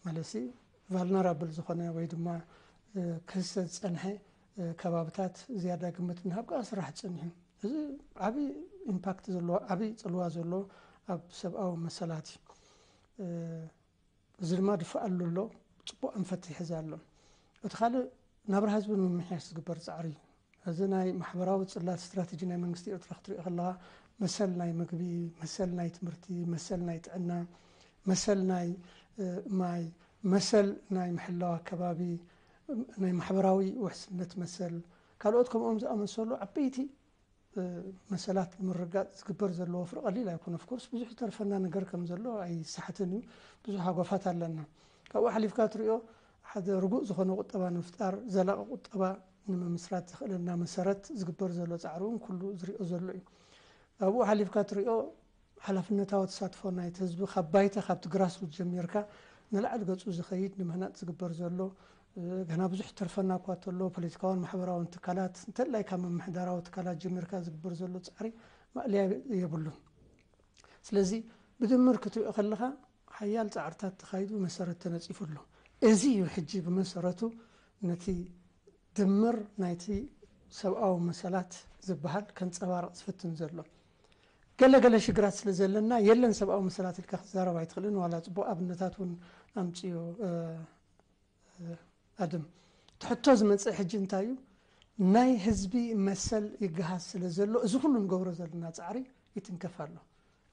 መለሲ ቫልነራብል ዝኾነ ወይ ድማ ክህሰ ዝፀንሐ ከባብታት ዝያዳ ግምት ምሃብ ከዓ ስራሕ ፀኒሑ እዚ ዓብይ ኢምፓክት ዘለዎ ዓብይ ፅልዋ ዘለዎ ኣብ ሰብኣዊ መሰላት እዩ እዚ ድማ ድፋኣሉ ኣሎ ፅቡቅ ኣንፈት ይሕዝ ኣሎ እቲ ካልእ ናብራ ህዝቢ ንምምሕያሽ ዝግበር ፃዕሪ እዩ እዚ ናይ ማሕበራዊ ጽላት ስትራተጂ ናይ መንግስቲ ኤርትራ ክትሪኦ ከለኻ መሰል ናይ ምግቢ፣ መሰል ናይ ትምህርቲ፣ መሰል ናይ ጥዕና፣ መሰል ናይ ማይ፣ መሰል ናይ ምሕላው ኣከባቢ፣ ናይ ማሕበራዊ ውሕስነት መሰል ካልኦት ከምኦም ዝኣመሰሉ ዓበይቲ መሰላት ንምርግጋጽ ዝግበር ዘሎ ወፍሪ ቀሊል ኣይኮነ። ኦፍ ኮርስ ብዙሕ ዝተርፈና ነገር ከም ዘሎ ኣይሰሓትን እዩ። ብዙሕ ሃጓፋት ኣለና። ካብኡ ሓሊፍካ ትሪኦ ሓደ ርጉእ ዝኾነ ቁጠባ ንምፍጣር፣ ዘላቒ ቁጠባ ንምምስራት ዘኽእለና መሰረት ዝግበር ዘሎ ጻዕሪ እውን ኩሉ ዝሪኦ ዘሎ እዩ። ኣብኡ ሓሊፍካ ትሪኦ ሓላፍነታዊ ተሳትፎ ናይቲ ህዝቢ ካብ ባይታ ካብቲ ግራስሩት ጀሚርካ ንላዕሊ ገጹ ዝኸይድ ንምህናጽ ዝግበር ዘሎ ገና ብዙሕ ዝተርፈና እኳ እንተሎ ፖለቲካውን ማሕበራውን ትካላት እንተላይ ካብ ምምሕዳራዊ ትካላት ጀሚርካ ዝግበር ዘሎ ጻዕሪ ማእለያ የብሉን። ስለዚ ብድምር ክትሪኦ ከለኻ ሓያል ጻዕርታት ተኻይዱ መሰረት ተነጺፉ ኣሎ። እዚ እዩ ሕጂ ብመሰረቱ ነቲ ድምር ናይቲ ሰብኣዊ መሰላት ዝበሃል ከንጸባርቕ ዝፍትን ዘሎ። ገለ ገለ ሽግራት ስለ ዘለና የለን ሰብኣዊ መሰላት ኢልካ ክትዛረብ ኣይትኽእልን ዋላ ጽቡቕ ኣብነታት እውን ኣምጽኡ ኣድም። እቲ ሕቶ ዝመጽእ ሕጂ እንታይ እዩ ናይ ህዝቢ መሰል ይገሃስ ስለ ዘሎ እዚ ኩሉ ንገብሮ ዘለና ጻዕሪ ይትንከፍ ኣሎ።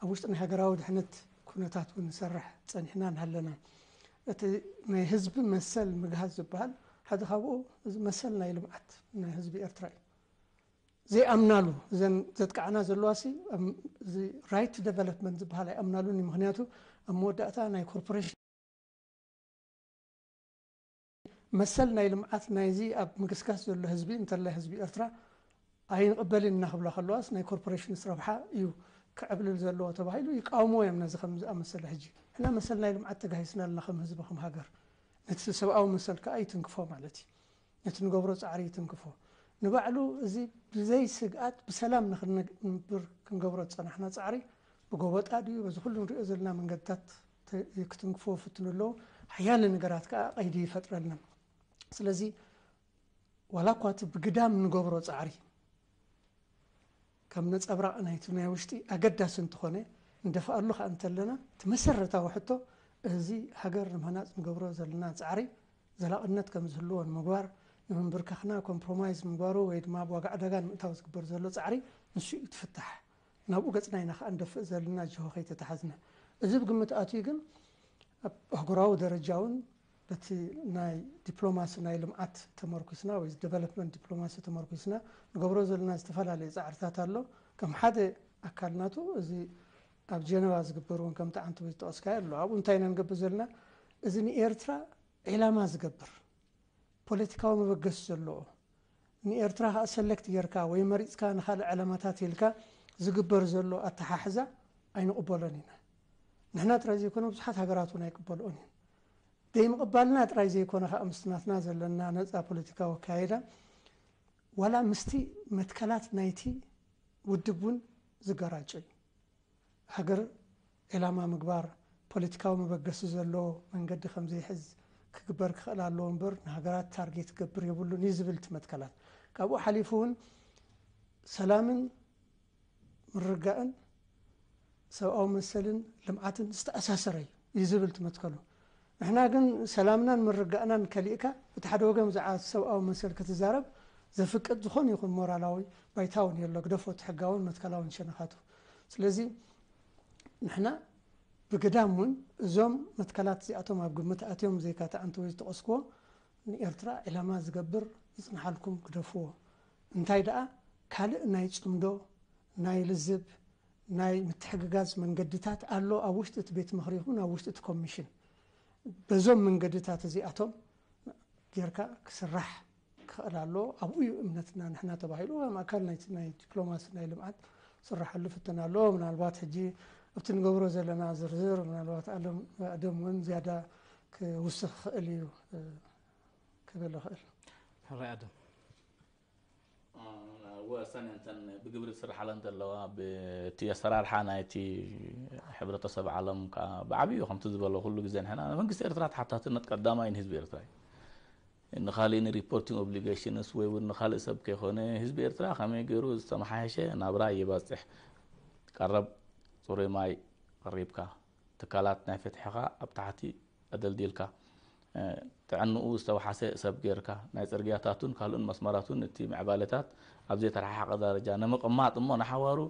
ኣብ ውሽጢ ናይ ሃገራዊ ድሕነት ኩነታት እውን ንሰርሕ ጸኒሕና ንሃለናን። እቲ ናይ ህዝቢ መሰል ምግሃስ ዝበሃል ሓደ ካብኡ እዚ መሰል ናይ ልምዓት ናይ ህዝቢ ኤርትራ እዩ። ዘይኣምናሉ እዘን ዘጥቅዓና ዘለዋሲ እዚ ራይት ደቨሎፕመንት ዝበሃል ኣይኣምናሉን እዩ። ምክንያቱ ኣብ መወዳእታ ናይ ኮርፖሬሽን። መሰል ናይ ልምዓት ናይዚ ኣብ ምግስጋስ ዘሎ ህዝቢ እንተላይ ህዝቢ ኤርትራ ኣይንቕበልን ኢና ክብላ ከለዋስ ናይ ኮርፖሬሽንስ ረብሓ እዩ ክዕብልል ዘለዎ ተባሂሉ ይቃወምዎ እዮም ነዚ ከምዚ ዝኣመሰለ ሕጂ ንሕና መሰል ናይ ልምዓት ተጋሂስና ኣለና ከም ህዝቢ ከም ሃገር ነቲ ሰብኣዊ መሰል ከኣ ይትንክፎ ማለት እዩ ነቲ ንገብሮ ጻዕሪ ይትንክፎ ንባዕሉ እዚ ብዘይ ስግኣት ብሰላም ንክንነብር ክንገብሮ ዝጸናሕና ጻዕሪ ብጎበጣ ድዩ በዚ ኩሉ ንሪኦ ዘለና መንገድታት ክትንክፎ ፍትኑ ኣሎ ሓያለ ነገራት ከኣ ቀይዲ ይፈጥረልና ስለዚ ዋላ እኳ እቲ ብግዳም ንገብሮ ጻዕሪ ከም ነጸብራቕ ናይቲ ናይ ውሽጢ ኣገዳሲ እንተኾነ ንደፍኣሉ ከኣ እንተለና እቲ መሰረታዊ ሕቶ እዚ ሃገር ንምህናጽ ንገብሮ ዘለና ጻዕሪ ዘላቕነት ከም ዝህልዎ ንምግባር ንምንብርካኽና ኮምፕሮማይዝ ምግባሩ ወይ ድማ ኣብ ዋጋ ዕዳጋ ንምእታው ዝግበር ዘሎ ጻዕሪ ንሱ እዩ ትፍታሕ ናብኡ ገጽና ኢና ከኣ ንደፍእ ዘልና ጅሆ ከይተታሓዝና። እዚ ብግምት ኣትዩ ግን ኣብ ኣህጉራዊ ደረጃ ውን በቲ ናይ ዲፕሎማሲ ናይ ልምዓት ተመርኩስና ወይ ደቨለፕመንት ዲፕሎማሲ ተመርኩስና ንገብሮ ዘልና ዝተፈላለየ ጻዕርታት ኣሎ። ከም ሓደ ኣካል ናቱ እዚ ኣብ ጀነቫ ዝግበር ውን ከምቲ ዓንተቦይ ዝጠቐስካዮ ኣሎ። ኣብኡ እንታይ ኢና ንገብር ዘልና እዚ ንኤርትራ ዒላማ ዝገብር ፖለቲካዊ መበገሲ ዘሎኦ፣ ንኤርትራ ከኣ ሰለክት ጌርካ ወይ መሪጽካ ንካልእ ዕላማታት ኢልካ ዝግበር ዘሎ ኣተሓሕዛ ኣይንቕበሎን ኢና። ንሕና ጥራይ ዘይኮነ ብዙሓት ሃገራት እውን ኣይቅበልኦን እየን። ዘይምቕባልና ጥራይ ዘይኮነ ከኣ ምስቲ ናትና ዘለና ነጻ ፖለቲካዊ ኣከያይዳ ዋላ ምስቲ መትከላት ናይቲ ውድብ እውን ዝገራጮ እዩ። ሃገር ዒላማ ምግባር፣ ፖለቲካዊ መበገሲ ዘለዎ መንገዲ ከም ዘይሕዝ ክግበር ክኸእል ኣለዎ እምበር ንሃገራት ታርጌት ክገብር የብሉን እዩ ዝብል እቲ መትከላት። ካብኡ ሓሊፉ እውን ሰላምን ምርግጋእን ሰብኣዊ መሰልን ልምዓትን ዝተኣሳሰረ እዩ እዩ ዝብል እቲ መትከሉ። ንሕና ግን ሰላምናን ምርጋእናን ከሊእካ በቲ ሓደ ወገን ብዛዕባ ሰብኣዊ መሰል ክትዛረብ ዘፍቅድ ዝኾነ ይኹን ሞራላዊ ባይታ ውን የሎ ግደፎ እቲ ሕጋውን መትከላውን ሸነኻቱ ስለዚ ንሕና ብግዳም ውን እዞም መትከላት እዚኣቶም ኣብ ግምት ኣትዮም ዘይካ ትዓንተ ወይ ዝጠቐስክዎ ንኤርትራ ዒላማ ዝገብር ይጽንሓልኩም ግደፍዎ እንታይ ደኣ ካልእ ናይ ጽምዶ ናይ ልዝብ ናይ ምትሕግጋዝ መንገድታት ኣሎ፣ ኣብ ውሽጢ እቲ ቤት ምኽሪ ይኹን ኣብ ውሽጢ እቲ ኮሚሽን በዞም መንገድታት እዚኣቶም ጌርካ ክስራሕ ክኽእል ኣለዎ፣ ኣብኡ እዩ እምነትና ንሕና ተባሂሉ ከም ኣካል ናይቲ ናይ ዲፕሎማሲ ናይ ልምዓት ክስራሓሉ ፍትና ኣለዎ። ምናልባት ሕጂ ኣብቲ ንገብሮ ዘለና ዝርዝር ምናልባት ኣለም ኣደም እውን ዝያዳ ክውስኽ ይኽእል እዩ ክብል እኽእል። ሓወይ ኣደም ወሰን እተን ብግብሪ ዝስርሓለን ዘለዋ ብቲ ኣሰራርሓ ናይቲ ሕብረተሰብ ዓለም ከዓ ብዓብዩ ከምቲ ዝበሎ ኩሉ ግዜ ንሕና ንመንግስቲ ኤርትራ ተሓታትነት ቀዳማይ ንህዝቢ ኤርትራ እዩ ንካሊእ ንሪፖርቲንግ ኦብሊጌሽንስ ወይ እውን ንካልእ ሰብ ከይኮነ ህዝቢ ኤርትራ ከመይ ገይሩ ዝተመሓየሸ ናብራ የባፅሕ ቀረብ ፅሩይ ማይ ቀሪብካ ትካላት ናይ ፍትሕኻ ኣብ ታሕቲ ኣደልዲልካ፣ ጥዕንኡ ዝተውሓሰ ሰብ ገይርካ፣ ናይ ጽርግያታቱን ካልእን መስመራቱን እቲ ምዕባለታት ኣብ ዘይተረሓሓቐ ዳረጃ ንምቕማጥ እሞ ንሓዋሩ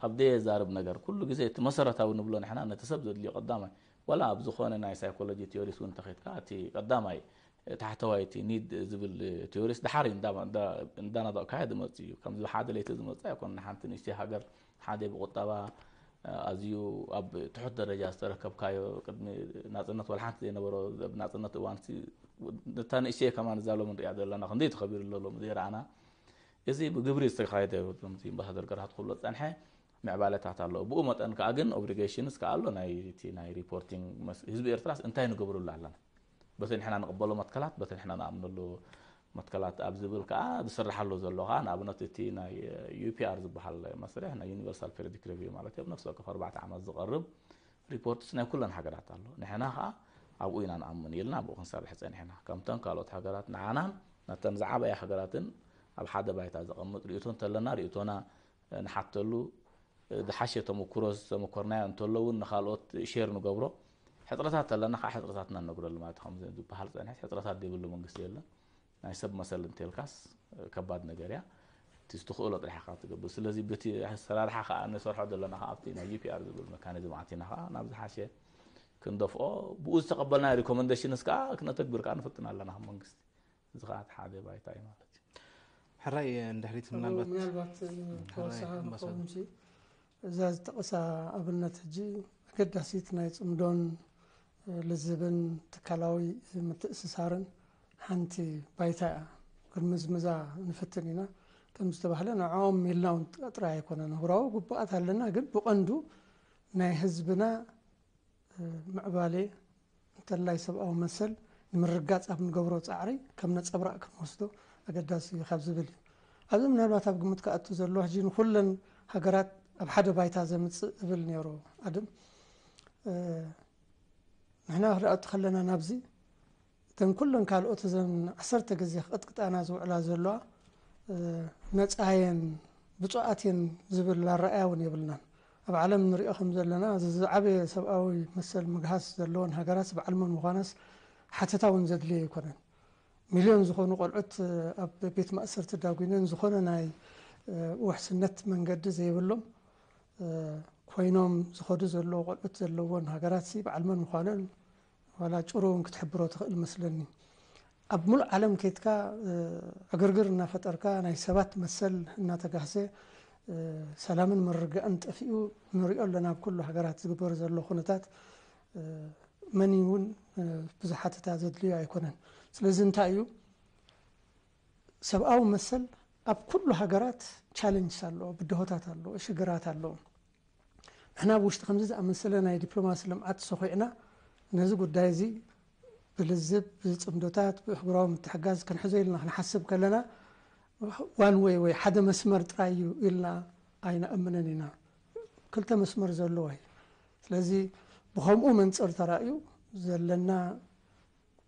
ኣብ ደየዛርብ ነገር ኩሉ ግዜ እቲ መሰረታዊ ንብሎ ንሕና ነቲ ሰብ ዘድልዮ ቀዳማይ ዋላ ኣብ ዝኾነ ናይ ሳይኮሎጂ ቲዮሪስ እውን እንተኸድካ እቲ ቀዳማይ ታሕተዋይ እቲ ኒድ ዝብል ቲዮሪስ ድሓር እንዳናጠቕካዮ ዝመጽእ እዩ። ከምዚ ብሓደ ለይቲ ዝመጽእ ኣይኮነን። ሓንቲ ንእሽተይ ሃገር ሓደ ብቁጠባ ኣዝዩ ኣብ ትሑት ደረጃ ዝተረከብካዮ ቅድሚ ናፅነት ዋላ ሓንቲ ዘይነበሮ ኣብ ናፅነት እዋን ነታ ንእሽተየ ከማ እዛ ሎሚ ንሪኣ ዘለና ክንደይ ተኸቢሩ ኣሎ ሎሚ ዘይረኣና እዚ ብግብሪ ዝተኻየደ ከምቲ ኣምባሳደር ገርሃት ክብሎ ዝፀንሐ ምዕባለታት ኣሎ ብኡ መጠን ከዓ ግን ኦብሊጌሽንስ ከዓ ኣሎ ናይቲ ናይ ሪፖርቲንግ ህዝቢ ኤርትራስ እንታይ ንገብረሉ ኣለና በቲ ንሕና ንቕበሎ መትከላት፣ በቲ ንሕና ንኣምነሉ መትከላት ኣብ ዝብል ከኣ ዝስርሓሉ ዘሎ ከኣ ንኣብነት እቲ ናይ UPR ዝበሃል መስርሕ ናይ ዩኒቨርሳል ፔሪዮዲክ ሪቪው ማለት እዮ። ኣብ ነፍሲ ወከፍ ኣርባዕተ ዓመት ዝቐርብ ሪፖርትስ ናይ ኩለን ሃገራት ኣሎ። ንሕና ከኣ ኣብኡ ኢና ንኣምን ኢልና ኣብኡ ክንሰርሕ ጸኒሕና። ከምተን ካልኦት ሃገራት ንዓናን ነተን ዝዓበያ ሃገራትን ኣብ ሓደ ባይታ ዘቐምጥ ርእይቶ እንተለና ርእይቶና ንሓተሉ፣ ዝሓሸ ተመኩሮ ዝተመኮርናዮ እንተሎ እውን ንካልኦት ሼር ንገብሮ፣ ሕጽረታት ተለና ከኣ ሕጽረታትና ንነግረሉ ማለት እዩ። ከምዚ ዝበሃል ጸኒሕስ ሕጽረታት ዘይብሉ መንግስቲ የለን። ናይ ሰብ መሰል እንተልካስ ከባድ ነገር እያ። እቲ ዝትኽእሎ ጥራሕ ኢኻ ትገብር። ስለዚ በቲ ኣሰራርሓ ከኣ ንሰርሖ ዘለና ከኣ ኣብቲ ናይ UPR ዝብል መካኒዝም ኣቲና ከኣ ናብ ዝሓሸ ክንደፍኦ ብኡ ዝተቐበልናዮ ሪኮመንደሽንስ ከኣ ክነተግብር ከኣ ንፍትን ኣለና ከም መንግስቲ። እዚ ከኣ እቲ ሓደ ባይታ እዩ ማለት እዩ ሕራይ ንድሕሪት ምናልባት ምናልባት ተወሳኺ ንኸውን ሲ እዛ ዝጠቐሳ ኣብነት ሕጂ ኣገዳሲት ናይ ፅምዶን ልዝብን ትካላዊ ምትእስሳርን ሓንቲ ባይታ እያ ክንምዝምዛ ንፍትን ኢና ከም ዝተባህለ ንዕኦም ኢልና እውን ጥራይ ኣይኮነን ህብራዊ ግቡኣት ኣለና ግን ብቐንዱ ናይ ህዝብና ምዕባሌ እንተላይ ሰብኣዊ መሰል ንምርግጋጽ ኣብ እንገብሮ ጻዕሪ ከም ነጸብራቕ ክንወስዶ ኣገዳሲ እዩ ካብ ዝብል እዩ። ኣብዚ ምናልባት ኣብ ግምት ክኣቱ ዘለዎ ሕጂ ንኹለን ሃገራት ኣብ ሓደ ባይታ ዘምጽእ እብል ነይሩ ኣድም ንሕና ክድኣቱ ከለና ናብዚ እተን ኩለን ካልኦት እዘን ዓሰርተ ግዜ ክቕጥቅጣና ዝውዕላ ዘለዋ ነጻ የን ብጹኣት የን ዝብል ኣራእያ እውን የብልናን። ኣብ ዓለም ንሪኦ ከም ዘለና እዚ ዝዓበየ ሰብኣዊ መሰል ምግሃስ ዘለወን ሃገራት በዓል መን ምዃናስ ሓተታ እውን ዘድልዮ ኣይኮነን። ሚልዮን ዝኾኑ ቆልዑት ኣብ ቤት ማእሰርቲ ዳጒነን ዝኾነ ናይ ውሕስነት መንገዲ ዘይብሎም ኮይኖም ዝኸዱ ዘለዉ ቆልዑት ዘለወን ሃገራትሲ በዓል መን ምዃነን ዋላ ጭሩ እውን ክትሕብሮ ትኽእል እመስለኒ። ኣብ ምሉእ ዓለም ከይድካ ዕግርግር እናፈጠርካ ናይ ሰባት መሰል እናተጋህሰ ሰላምን ምርግጋእን ጠፊኡ ንሪኦ ኣለና ኣብ ኩሉ ሃገራት ዝግበር ዘሎ ኩነታት መን እዩ እውን ብዙሕ ሓተታ ዘድልዮ ኣይኮነን። ስለዚ እንታይ እዩ ሰብኣዊ መሰል ኣብ ኩሉ ሃገራት ቻለንጅስ ኣለዎ፣ ብድሆታት ኣለዎ፣ ሽግራት ኣለዎ። ንሕና ኣብ ውሽጢ ከምዚ ዝኣመሰለ ናይ ዲፕሎማሲ ልምዓት ሰዂዕና ነዚ ጉዳይ እዚ ብልዝብ፣ ብጽምዶታት፣ ብእህጉራዊ ምትሕጋዝ ክንሕዞ ኢልና ክንሓስብ ከለና ዋን ወይ ወይ ሓደ መስመር ጥራይ እዩ ኢልና ኣይንኣምንን ኢና። ክልተ መስመር ዘለዎ እዩ። ስለዚ ብኸምኡ መንጽር ተራእዩ ዘለና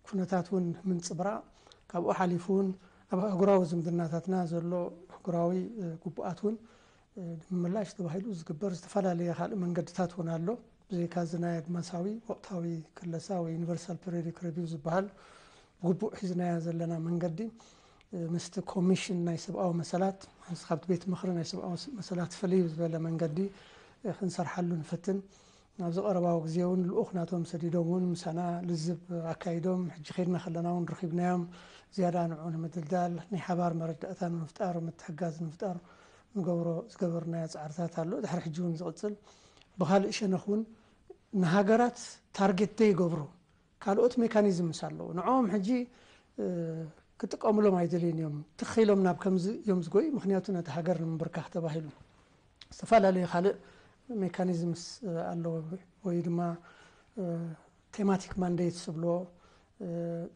ኩነታት እውን ምንጽብራቕ፣ ካብኡ ሓሊፉ እውን ኣብ ኣህጉራዊ ዝምድናታትና ዘሎ ኣህጉራዊ ግቡኣት እውን ንምምላሽ ተባሂሉ ዝግበር ዝተፈላለየ ካልእ መንገድታት እውን ኣሎ። ብዘይካ እዚ ናይ ኣድማሳዊ ወቕታዊ ክለሳ ወይ ዩኒቨርሳል ፔሪዮዲክ ረቪው ዝበሃል ግቡእ ሒዝናዮ ዘለና መንገዲ ምስቲ ኮሚሽን ናይ ሰብኣዊ መሰላት ምስ ካብቲ ቤት ምኽሪ ናይ ሰብኣዊ መሰላት ፍልይ ብዝበለ መንገዲ ክንሰርሓሉ ንፍትን። ናብዚ ቀረባዊ ግዜውን ልኡኽ ናቶም ሰዲዶምውን ምሳና ልዝብ ኣካይዶም፣ ሕጂ ከድና ከለናውን ረኺብናዮም፣ ዝያዳ ንዑ ንምድልዳል ናይ ሓባር መረዳእታ ንምፍጣር ምትሕጋዝ ንምፍጣር ንገብሮ ዝገበርናዮ ጻዕርታት ኣሎ፣ ድሕሪ ሕጂውን ዝቕጽል፣ ብኻልእ ሸነኽውን ንሃገራት ታርጌት ዘይገብሩ ካልኦት ሜካኒዝምስ ኣለዉ ንዕኦም ሕጂ ክጥቀምሎም ኣይደልዩን እዮም ትኽ ኢሎም ናብ ከምዚ እዮም ዝጎዩ ምኽንያቱ ነታ ሃገር ንምብርካኽ ተባሂሉ ዝተፈላለዩ ካልእ ሜካኒዝምስ ኣለዎ ወይ ድማ ቴማቲክ ማንዴትስ ዝብልዎ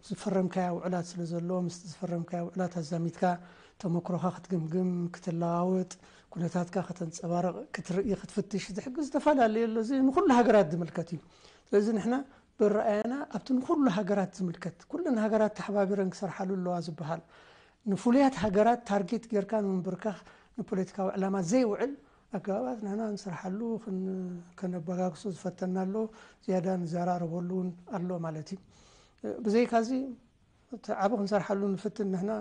ዝፈረምካያ ውዕላት ስለ ዘሎ ምስቲ ዝፈረምካያ ውዕላት ኣዛሚድካ ተመክሮኻ ክትግምግም ክትለዋወጥ ኩነታትካ ከተንጸባርቕ ክትርኢ ክትፍትሽ ዝሕግዝ ዝተፈላለዩ ኣሎ እዚ ንኹሉ ሃገራት ዝምልከት እዩ ስለዚ ንሕና በረኣያና ኣብቲ ንኹሉ ሃገራት ዝምልከት ኩለን ሃገራት ተሓባቢረን ክሰርሓሉ ኣለዋ ዝበሃል ንፍሉያት ሃገራት ታርጌት ጌርካ ንምብርካኽ ንፖለቲካዊ ዕላማ ዘይውዕል ኣገባባት ንሕና ንሰርሓሉ ከነበጋግሶ ዝፈተና ኣሎ ዝያዳ ንዘራረበሉ እውን ኣሎ ማለት እዩ ብዘይካዚ እቲ ዓቢ ክንሰርሓሉ ንፍትን ንሕና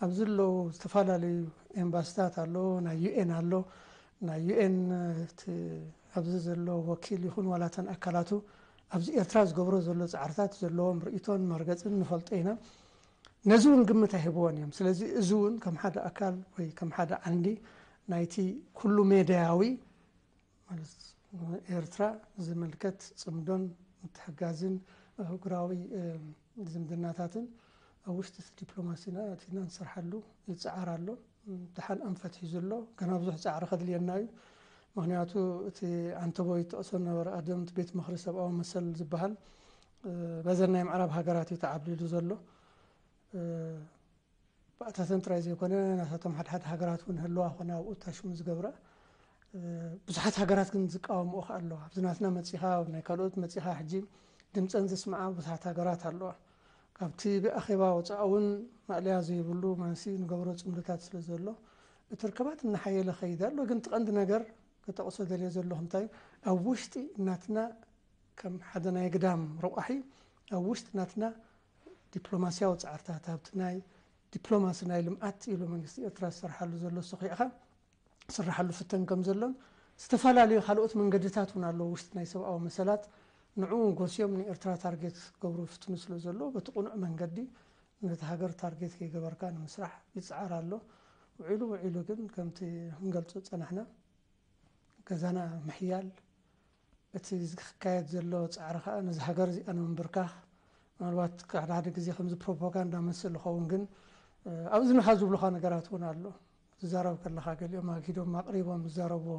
ኣብዚ ኣለው ዝተፈላለዩ ኤምባስታት ኣሎ ናይ ዩኤን ኣሎ ናይ ዩኤን እቲ ኣብዚ ዘሎ ወኪል ይኹን ዋላ እተን ኣካላቱ ኣብዚ ኤርትራ ዝገብሮ ዘሎ ጻዕርታት ዘለዎም ርእይቶን መርገጽን ንፈልጦ ኢና ነዚ እውን ግምት ኣይህብዎን እዮም ስለዚ እዚ እውን ከም ሓደ ኣካል ወይ ከም ሓደ ዓንዲ ናይቲ ኩሉ ሜድያዊ ማለት ንኤርትራ ዝምልከት ጽምዶን ምትሕጋዝን ኣህጉራዊ ዝምድናታትን ኣብ ውሽጢ እቲ ዲፕሎማሲና ኣእቲና ንሰርሓሉ ይጽዓር ኣሎ። ደሓን ኣንፈት ሒዙ ኣሎ። ገና ብዙሕ ጻዕሪ ከድልየና እዩ። ምክንያቱ እቲ ዓንተቦይ ዝጠቕሶ ዝነበረ ቀደም እቲ ቤት ምክሪ ሰብኣዊ መሰል ዝበሃል በዘን ናይ ምዕራብ ሃገራት እዩ ተዓብሊሉ ዘሎ። ባእታተን ጥራይ ዘይኮነ ናታቶም ሓድሓድ ሃገራት እውን ህልዋ ኮነ ኣብኡ እታሽሙ ዝገብራ ብዙሓት ሃገራት ግን ዝቃወምኦ ከ ኣለዋ ኣብዚ ናትና መጺኻ ኣብ ናይ ካልኦት መጺኻ ሕጂ ድምፀን ዘስምዓ ብዙሓት ሃገራት ኣለዋ ካብቲ ብኣኼባ ወፃኢ እውን ማእለያ ዘይብሉ ማንሲ ንገብሮ ፅምድታት ስለ ዘሎ እቲ ርከባት እናሓየለ ኸይድ ኣሎ ግን ትቐንዲ ነገር ክጠቕሶ ደልየ ዘለኹ እንታይ ኣብ ውሽጢ ናትና ከም ሓደ ናይ ግዳም ረቋሒ ኣብ ውሽጢ ናትና ዲፕሎማሲያዊ ጻዕርታት ኣብቲ ናይ ዲፕሎማሲ ናይ ልምዓት ኢሉ መንግስቲ ኤርትራ ዝሰርሓሉ ዘሎ ሶኺዕካ ዝስራሓሉ ፍተን ከም ዘሎን ዝተፈላለዩ ካልኦት መንገድታት እውን ኣለዉ ውሽጢ ናይ ሰብኣዊ መሰላት ንዕኡ እውን ጎስዮም ንኤርትራ ታርጌት ክገብሩ ይፍትኑ ስለ ዘለዉ በቲ ቅኑዕ መንገዲ ነቲ ሃገር ታርጌት ከይገበርካ ንምስራሕ ይጽዓር ኣሎ ውዒሉ ውዒሉ ግን ከምቲ ክንገልጾ ዝጸናሕና ገዛና ምሕያል እቲ ዝካየድ ዘሎ ጻዕሪ ከኣ ነዛ ሃገር እዚኣ ንምንብርካኽ ምናልባት ሓደ ሓደ ግዜ ከምዚ ፕሮፓጋንዳ መስል ዝኸውን ግን ኣብ እዝንኻ ዝብሉኻ ነገራት እውን ኣሎ ትዛረብ ከለኻ ገሊኦም ኣግሂዶም ኣቕሪቦም ዝዛረብዎ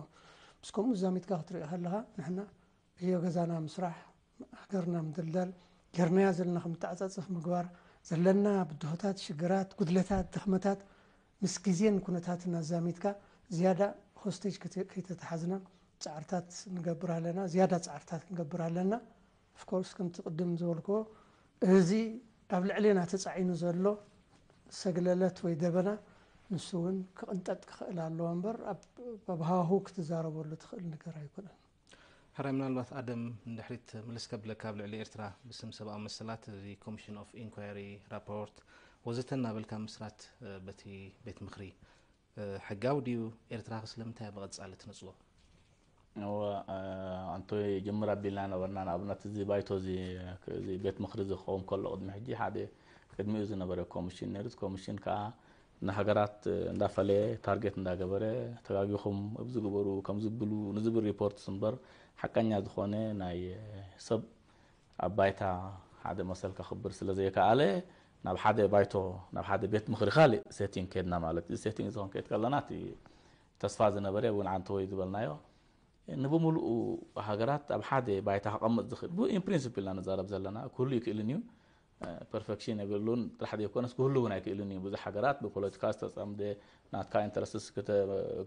ምስ ከምኡ ዛሚትካ ክትሪኦ ከለኻ ንሕና ዕዮ ገዛና ምስራሕ ሃገርና ምድልዳል ጌርናያ ዘለና ከምተዓጻጽፍ ምግባር ዘለና ብድሆታት ሽግራት ጉድለታት ድኽመታት ምስ ግዜን ኩነታትን ኣዛሚድካ ዝያዳ ሆስቴጅ ከይተታሓዝና ጻዕርታት ንገብር ኣለና፣ ዝያዳ ጻዕርታት ክንገብር ኣለና። ኦፍ ኮርስ ከምቲ ቅድም ዝበልክዎ እዚ ኣብ ልዕሌና ተጻዒኑ ዘሎ ሰግለለት ወይ ደበና ንሱ እውን ክቕንጠጥ ክኽእል ኣለዎ እምበር ኣብ ሃዋህው ክትዛረበሉ ትኽእል ነገር ኣይኮነን። ሕራይ ምናልባት ኣደም ንድሕሪት ምልስ ከብለካ ኣብ ልዕሊ ኤርትራ ብስም ሰብኣዊ መሰላት እዚ ኮምሽን ኦፍ ኢንኳየሪ ራፖርት ወዘተ እናበልካ ምስራት በቲ ቤት ምክሪ ሕጋዊ ድዩ ኤርትራኸ ስለምንታይ ብቐጻሊ ትነጽጎ ኣንቶ ጅምር ኣቢልና ነበርና ንኣብነት እዚ ባይቶ እዚ ቤት ምክሪ እዚ ክኸውን ከሎ ቅድሚ ሕጂ ሓደ ቅድሚኡ ዝነበረ ኮሚሽን ነሩ ኮሚሽን ከዓ ንሃገራት እንዳፈለየ ታርጌት እንዳገበረ ተጋጊኹም እብዚ ግበሩ ከምዚ ብሉ ንዝብል ሪፖርትስ እምበር ሓቀኛ ዝኾነ ናይ ሰብ ኣብ ባይታ ሓደ መሰል ከኽብር ስለዘይከኣለ ናብ ሓደ ባይቶ ናብ ሓደ ቤት ምኽሪ ካልእ ሴቲንግ ከድና ማለት እዚ ሴቲንግ እዚ ክንከይድ ከለና እቲ ተስፋ ዝነበረ እውን ዓንተ ወይ ዝበልናዮ ንብምልኡ ሃገራት ኣብ ሓደ ባይታ ከቐምጥ ዝኽእል ኢን ፕሪንስፕል ኢና ንዛረብ ዘለና ክህሉ ይክእልን እዩ ፐርፈክሽን የብሉን ጥራሕ ዘይኮነስ ክህሉ እውን ኣይክእልን እዩ። ብዙሕ ሃገራት ብፖለቲካ ዝተፀምደ ናትካ ኢንተረስትስ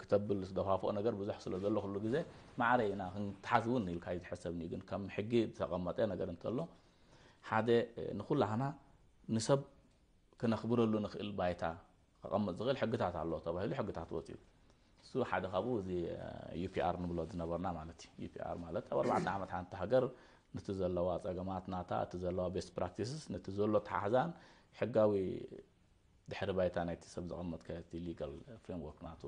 ክተብል ዝደፋፍኦ ነገር ብዙሕ ስለ ዘሎ ኩሉ ግዜ ማዕረ ኢና ክንተሓዝ እውን ኢልካ ይዝሐሰብ እዩ። ግን ከም ሕጊ ዝተቐመጠ ነገር እንተሎ ሓደ ንኩላህና ንሰብ ክነኽብረሉ ንኽእል ባይታ ከቐምጥ ዝኽእል ሕግታት ኣሎ ተባሂሉ ሕግታት ወጺኡ። እሱ ሓደ ካብኡ እዚ ዩፒኣር ንብሎ ዝነበርና ማለት እዩ። ዩፒኣር ማለት ኣብ ኣርባዕተ ዓመት ሓንቲ ሃገር ነቲ ዘለዋ ጸገማት ናታ እቲ ዘለዋ ቤስት ፕራክቲስስ ነቲ ዘሎ ተሓሕዛን ሕጋዊ ድሕሪ ባይታ ናይቲ ሰብ ዘቐመጥ ከቲ ሊጋል ፍሬምወርክ ናቱ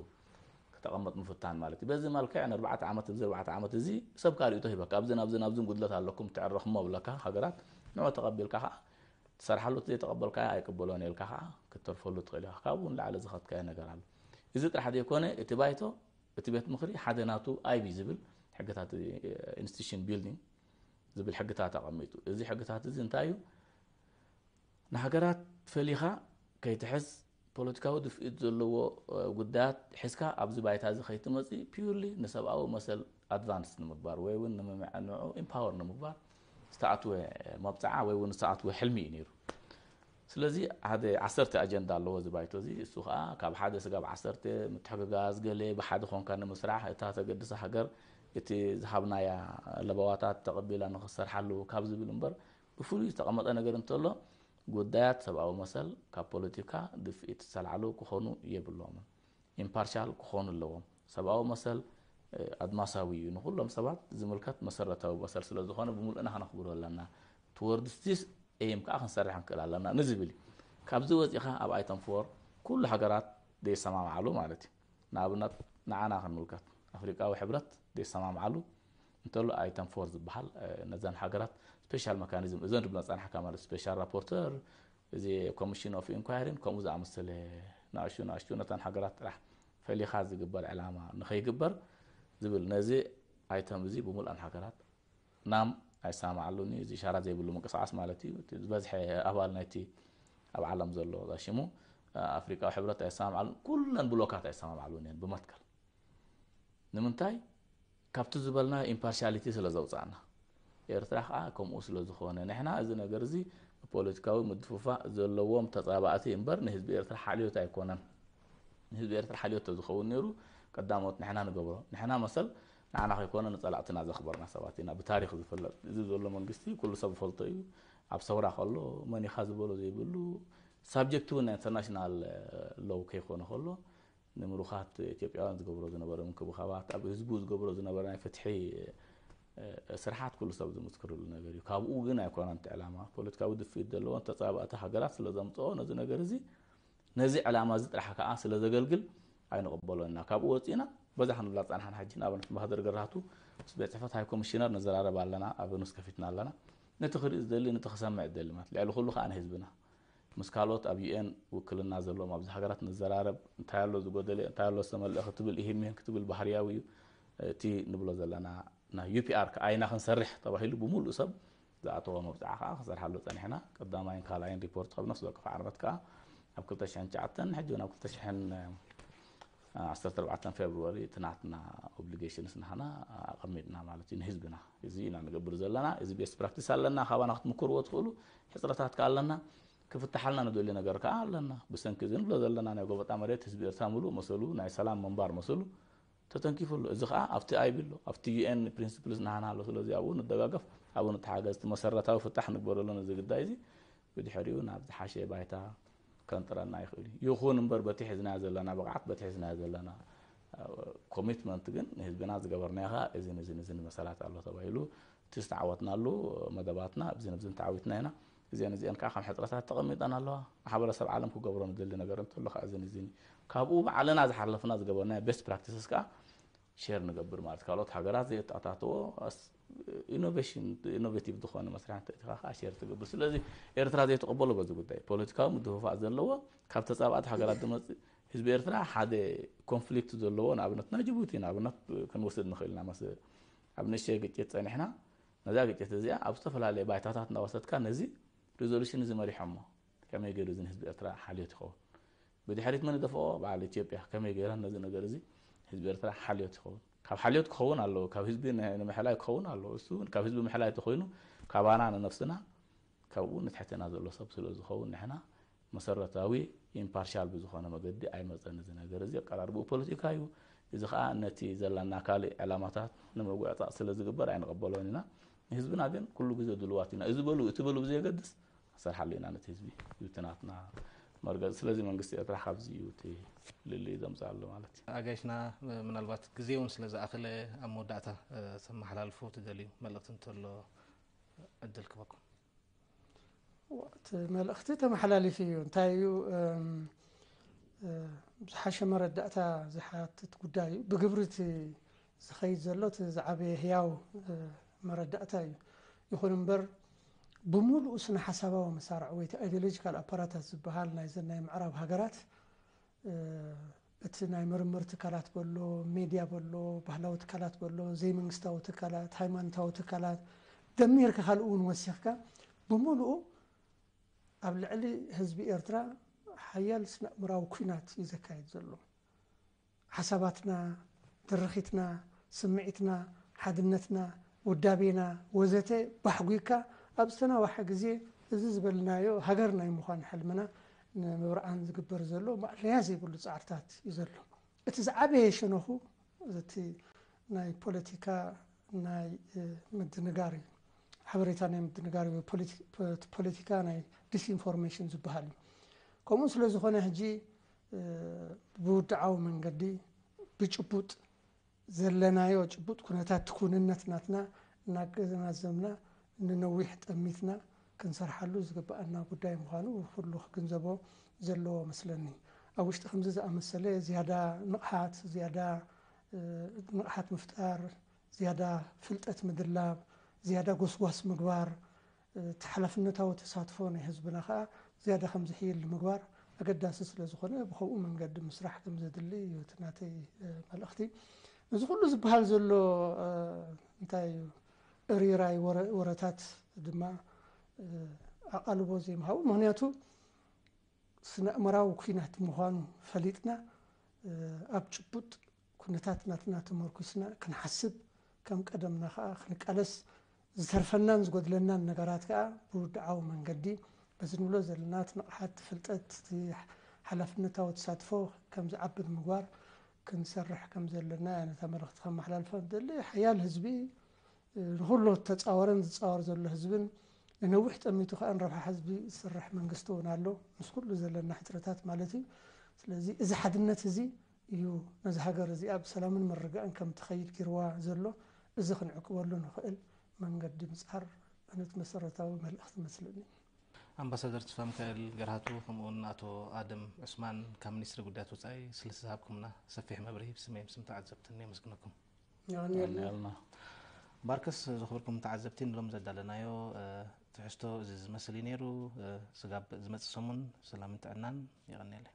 ክተቐመጥ ምፍታን ማለት እዩ በዚ መልክዕ ንኣርባዕተ ዓመት እዚ ኣርባዕተ ዓመት እዚ ሰብ ካሪእቶ ሂበካ ኣብዚ ናብዚ ናብዚ ጉድለት ኣለኩም ትዕረኽሞ ብለካ ሃገራት ንዑ ተቐቢልካ ከዓ ትሰርሓሉ እቲ ዘይተቐበልካዮ ኣይቅበሎን እየ ኢልካ ከኣ ክትተርፈሉ ትኽእል ኢኻ። ካብኡ ንላዕሊ ዝኸትካዮ ነገር ኣሎ። እዚ ጥራሕ ዘይኮነ እቲ ባይቶ እቲ ቤት ምኽሪ ሓደ ናቱ ኣይቢ ዝብል ሕግታት ኢንስቲቱሽን ቢልዲንግ ዝብል ሕግታት ኣቐሚጡ እዚ ሕግታት እዚ እንታይ እዩ ንሃገራት ፈሊኻ ከይትሕዝ ፖለቲካዊ ድፍኢት ዘለዎ ጉዳያት ሒዝካ ኣብዚ ባይታ እዚ ከይትመጽእ purely ንሰብኣዊ መሰል ኣድቫንስ ንምግባር ወይ እውን ንምምዕንዑ ኢምፓወር ንምግባር ዝተኣትወ መብጽዓ ወይ እውን ዝተኣትወ ሕልሚ እዩ ነይሩ። ስለዚ ሓደ ዓሰርተ ኣጀንዳ ኣለዎ እዚ ባይቶ እዚ እሱ ከዓ ካብ ሓደ ስጋብ ዓሰርተ ምትሕግጋዝ ገለ ብሓደ ኮንካ ንምስራሕ እታ ተገድሳ ሃገር እቲ ዝሃብናያ ለበዋታት ተቐቢላ ንክሰርሓሉ ካብ ዝብል እምበር ብፍሉይ ዝተቐመጠ ነገር እንተሎ፣ ጉዳያት ሰብኣዊ መሰል ካብ ፖለቲካ ድፍኢት ዝተላዕሉ ክኾኑ የብሎምን። ኢምፓርሻል ክኾኑ ኣለዎም። ሰብኣዊ መሰል ኣድማሳዊ እዩ፣ ንኹሎም ሰባት ዝምልከት መሰረታዊ መሰል ስለ ዝኾነ ብምሉእና ከነኽብሮ ኣለና። ቱወርድስ ዚስ ኤይም ከኣ ክንሰርሕ ክንክእል ኣለና ንዝብል እዩ። ካብዚ ወጺእኻ ኣብ ኣይተም ፎር ኩሉ ሃገራት ዘይሰማምዓሉ ማለት እዩ። ንኣብነት ንዓና ክንምልከት፣ ኣፍሪቃዊ ሕብረት ዘይሰማምዓሉ፣ እንተሎ ኣይተም ፎር ዝበሃል ነዘን ሃገራት ስፔሻል መካኒዝም እዘን ድብለን ጸናሕካ ማለት ስፔሻል ራፖርተር እዚ ኮሚሽን ኦፍ ኢንኳይሪን ከምኡ ዝኣመሰለ ንኣሹ ንኣሹ ነተን ሃገራት ጥራሕ ፈሊኻ ዝግበር ዕላማ ንኸይግበር ዝብል ነዚ ኣይተም እዚ ብምልኣን ሃገራት ናም ኣይሰማማዓሉን እዩ እዚ ሻራ ዘይብሉ ምንቅስቃስ ማለት እዩ እቲ ዝበዝሐ ኣባል ናይቲ ኣብ ዓለም ዘሎ ዛሽሙ ኣፍሪቃዊ ሕብረት ኣይሰማማዓሉን ኩለን ብሎካት ኣይሰማማዓሉን እየን ብመትከል ንምንታይ ካብቲ ዝበልናዮ ኢምፓርሻሊቲ ስለ ዘውጻእና ኤርትራ ከኣ ከምኡ ስለ ዝኾነ ንሕና እዚ ነገር እዚ ንፖለቲካዊ ምድፍፋእ ዘለዎም ተጻባእቲ እምበር ንህዝቢ ኤርትራ ሓልዮት ኣይኮነን ንህዝቢ ኤርትራ ሓልዮት ተዝኸውን ነይሩ ቀዳሞት ንሕና ንገብሮ ንሕና መሰል ንዓና ከይኮነ ንጸላእትና ዘኽበርና ሰባት ኢና ብታሪኽ ዝፍለጥ እዚ ዘሎ መንግስቲ ኩሉ ሰብ ዝፈልጦ እዩ ኣብ ሰውራ ከሎ መን ኢኻ ዝበሎ ዘይብሉ ሳብጀክት እውን ናይ ኢንተርናሽናል ሎው ከይኮነ ከሎ ንምሩኻት ኢትዮጵያውያን ዝገብሮ ዝነበረ ምንክብኻባት፣ ኣብ ህዝቡ ዝገብሮ ዝነበረ ናይ ፍትሒ ስርሓት ኩሉ ሰብ ዝምስክርሉ ነገር እዩ። ካብኡ ግን ኣይኮነን እቲ ዕላማ። ፖለቲካዊ ድፍኢት ዘለወን ተጻባእቲ ሃገራት ስለ ዘምጽኦ ነዚ ነገር እዚ ነዚ ዕላማ እዚ ጥራሕ ከኣ ስለ ዘገልግል ኣይንቕበሎን ኢና። ካብኡ ወጺእና በዛ ክንብላ ዝጸናሕና ሕጂ ንኣብነት ኣምባሳደር ገራህቱ ምስ ቤት ጽሕፈት ሃይ ኮሚሽነር ንዘራረብ ኣለና፣ ኣብ ኑስ ከፊትና ኣለና። ነቲ ክርኢ ዝደሊ ነቲ ክሰምዕ ዝደሊ ማለት ልዕሊ ኩሉ ከኣ ንህዝብና ምስ ካልኦት ኣብ UN ውክልና ዘለዎም ኣብዚ ሃገራት ንዘራረብ፣ እንታይ ኣሎ ዝጎደለ፣ እንታይ ኣሎ ዝተመልኣ ክትብል ኢሂን ምሂን ክትብል ባህርያዊ እዩ። እቲ ንብሎ ዘለና ናይ UPR ከኣ ኢና ክንሰርሕ ተባሂሉ ብምሉእ ሰብ ዝኣተዎ መብጽዓ ከኣ ክንሰርሓሉ ጸኒሕና። ቀዳማይን ካልኣይን ሪፖርት ካብ ነፍሲ ወከፍ ዓርመት ከኣ ኣብ ክልተ ሽሕን ትሽዓተን ሕጂ ውን ኣብ ክልተ ሽሕን ዓሰርተ ኣርባዕተ ፌብርዋሪ እቲ ናትና ኦብሊጌሽንስ ናህና ኣቐሚጥና ማለት እዩ ንህዝብና እዚ ኢና ንገብር ዘለና እዚ ቤስት ፕራክቲስ ኣለና ካባና ክትምክርዎ ትኽእሉ ሕፅረታት ከዓ ኣለና ክፍትሓልና ንደልዩ ነገር ከዓ ኣለና ብሰንኪ እዚ ንብሎ ዘለና ናይ ጎበጣ መሬት ህዝቢ ኤርትራ ምሉእ መሰሉ ናይ ሰላም ምንባር መሰሉ ተተንኪፉ ኣሎ እዚ ከዓ ኣብቲ ኣይቢ ኣሎ ኣብቲ ዩኤን ፕሪንስፕልስ ናሃና ኣሎ ስለዚ ኣብኡ ንደጋገፍ ኣብኡ ንተሓገዝ እቲ መሰረታዊ ፍታሕ ንግበረሉ ነዚ ግዳይ እዚ ብድሕሪኡ ናብ ዝሓሸ ባይታ ከንጥረና ይኽእል እዩ። ይኹን እምበር በቲ ሒዝናዮ ዘለና ብቕዓት በቲ ሒዝናዮ ዘለና ኮሚትመንት ግን ንህዝብና ዝገበርናዮ ከኣ እዝን እዝን እዝን መሰላት ኣሎ ተባሂሉ እቲ ዝተዓወትናሉ መደባትና እብዝን እብዝን ተዓዊትና ኢና። እዚኦን እዚኦን ከኣ ከም ሕጽረታት ተቐሚጠን ኣለዋ። ማሕበረሰብ ዓለም ክገብሮ ንደሊ ነገር እንተሎ ከኣ እዝን እዝን እዩ። ካብኡ ባዕልና ዝሓለፍና ዝገበርናዮ ቤስት ፕራክቲስስ ከኣ ሼር ንገብር ማለት እዩ። ካልኦት ሃገራት ዘየተኣታተዎ ኢኖቬሽን ኢኖቬቲቭ ዝኾነ መስርሕ እንተእቲኻ ከዓ ሼር ትገብር ስለዚ ኤርትራ ዘይተቐበሎ በዚ ጉዳይ ፖለቲካዊ ምድፍፋእ ዘለዎ ካብ ተጻባእቲ ሃገራት ዝመጽእ ህዝቢ ኤርትራ ሓደ ኮንፍሊክት ዘለዎ ንኣብነት ናይ ጅቡቲ ንኣብነት ክንወስድ ንኽእል ኢና መስ ኣብ ንእሽተይ ግጭት ጸኒሕና ነዛ ግጭት እዚኣ ኣብ ዝተፈላለየ ባይታታት እናወሰድካ ነዚ ሪዞሉሽን እዚ መሪሖሞ ከመይ ገይሩ እዚ ህዝቢ ኤርትራ ሓልዮት ይኸውን ብድሕሪት መን ይደፍኦ በዓል ኢትዮጵያ ከመይ ገይራ ነዚ ነገር እዚ ህዝቢ ኤርትራ ሓልዮት ይኸውን ካብ ሓልዮት ክኸውን ኣለዎ ካብ ህዝቢ ንምሕላይ ክኸውን ኣለዎ እሱ እውን ካብ ህዝቢ ምሕላይ ተኮይኑ ካባና ንነፍስና ካብኡ ንትሕትና ዘሎ ሰብ ስለ ዝኸውን ንሕና መሰረታዊ ኢምፓርሻል ብዝኾነ መገዲ ኣይመፀን እዚ ነገር እዚ ኣቀራርብኡ ፖለቲካ እዩ እዚ ከዓ ነቲ ዘለና ካልእ ዕላማታት ንምጉዕፃፅ ስለ ዝግበር ኣይንቐበሎን ኢና ንህዝብና ግን ኩሉ ግዜ ድልዋት ኢና። እዚ በሉ እቲ በሉ ብዘየገድስ ንሰርሓሉ ኢና ነቲ ህዝቢ እዩ እቲ ናትና መርገፂ። ስለዚ መንግስቲ ኤርትራ ካብዚ እዩ እቲ ፍልልይ ዘምፀኣሉ ማለት እዩ። ኣጋይሽና ምናልባት ግዜ እውን ስለ ዝኣኸለ ኣብ መወዳእታ ተመሓላልፎ ትደልዩ መልእኽቲ እንተሎ ዕድል ክበኩም። እቲ መልእኽቲ ተመሓላሊፉ እዩ። እንታይ እዩ ዝሓሸ መረዳእታ ዝሓትት ጉዳይ እዩ። ብግብሪ እቲ ዝኸይድ ዘሎ እቲ ዝዓበየ ህያው መረዳእታ እዩ። ይኹን እምበር ብምሉኡ ስነ ሓሳባዊ መሳርዕ ወይ እቲ ኣይዲዮሎጂካል ኣፓራታት ዝበሃል ናይዘን ናይ ምዕራብ ሃገራት እቲ ናይ ምርምር ትካላት በሎ ሜድያ በሎ ባህላዊ ትካላት በሎ ዘይመንግስታዊ ትካላት ሃይማኖታዊ ትካላት ደሚርካ ካልእ እውን ወሲኽካ ብምሉኡ ኣብ ልዕሊ ህዝቢ ኤርትራ ሓያል ስነእምራዊ ኩናት እዩ ዘካየድ ዘሎ ሓሳባትና፣ ትርኺትና፣ ስምዒትና፣ ሓድነትና፣ ውዳቤና ወዘተ ባሕጒግካ ኣብ ዝተናዋሐ ግዜ እዚ ዝበልናዮ ሃገር ናይ ምዃን ሕልምና ንምብርዓን ዝግበር ዘሎ ማእለያ ዘይብሉ ጻዕርታት እዩ ዘሎ። እቲ ዝዓበየ ሸነኹ እቲ ናይ ፖለቲካ ናይ ምድንጋር እዩ። ሓበሬታ ናይ ምድንጋር እዩ። እቲ ፖለቲካ ናይ ዲስኢንፎርሜሽን ዝበሃል እዩ። ከምኡ ስለ ዝኾነ ሕጂ ብውድዓዊ መንገዲ ብጭቡጥ ዘለናዮ ጭቡጥ ኩነታት ክውንነት ናትና እናገናዘብና ንነዊሕ ጠሚትና ክንሰርሓሉ ዝግበኣና ጉዳይ ምዃኑ ኩሉ ክግንዘቦ ዘለዎ እመስለኒ። ኣብ ውሽጢ ከምዚ ዝኣመሰለ ዝያዳ ንቕሓት፣ ዝያዳ ንቕሓት ምፍጣር፣ ዝያዳ ፍልጠት ምድላብ፣ ዝያዳ ጎስጓስ ምግባር፣ እቲ ሓላፍነታዊ ተሳትፎ ናይ ህዝብና ከኣ ዝያዳ ከም ዝሕይል ንምግባር ኣገዳሲ ስለ ዝኾነ ብኸምኡ መንገዲ ምስራሕ ከም ዘድሊ እዩ እቲ ናተይ መልእኽቲ። እዚ ኩሉ ዝበሃል ዘሎ እንታይ እዩ እርይራይ ወረታት ድማ ኣቓልቦ ዘይምሃቡ ምክንያቱ ስነእመራዊ ኩናት ምዃኑ ፈሊጥና ኣብ ጭቡጥ ኩነታት ናትና ተመርኩስና ክንሓስብ ከም ቀደምና ከኣ ክንቃለስ ዝተርፈናን ዝጎድለናን ነገራት ከኣ ብውድዓዊ መንገዲ በዚ ንብሎ ዘለና እቲ ንቕሓት እቲ ፍልጠት እቲ ሓላፍነታዊ ተሳትፎ ከም ዝዓቢ ንምግባር ክንሰርሕ ከም ዘለና እያ ነታ መልእኽቲ ከመሓላልፋ ዝደሊ ሓያል ህዝቢ ንኹሉ እተጻወረን ዝጻወር ዘሎ ህዝብን ንነዊሕ ጠሚቱ ከኣ ንረብሓ ህዝቢ ዝሰርሕ መንግስቲ እውን ኣሎ ምስ ኩሉ ዘለና ሕጽረታት ማለት እዩ ስለዚ እዚ ሓድነት እዚ እዩ ነዛ ሃገር እዚኣ ብሰላምን ምርግጋእን ከም ትኸይድ ጊርዋ ዘሎ እዚ ክንዕቅበሉ ንኽእል መንገዲ ምጻር እኑት መሰረታዊ መልእኽቲ መስልኒ። ኣምባሳደር ትስፋምካኤል ገርሃቱ ከምኡውን ኣቶ ኣደም ዑስማን ካብ ሚኒስትሪ ጉዳያት ወጻኢ ስልቲ ዝሃብኩምና ሰፊሕ መብርሂ ብስመይም ስም ተዓዘብትን የመስግነኩም። የቐንየልና። ባርከስ ዝኽብርኩም ተዓዘብቲ ንሎሚ ዘዳለናዮ ትሕዝቶ እዚ ዝመስል እዩ ነይሩ። ስጋብ ዝመጽእ ሰሙን ሰላምን ጥዕናን። የቐንየለይ።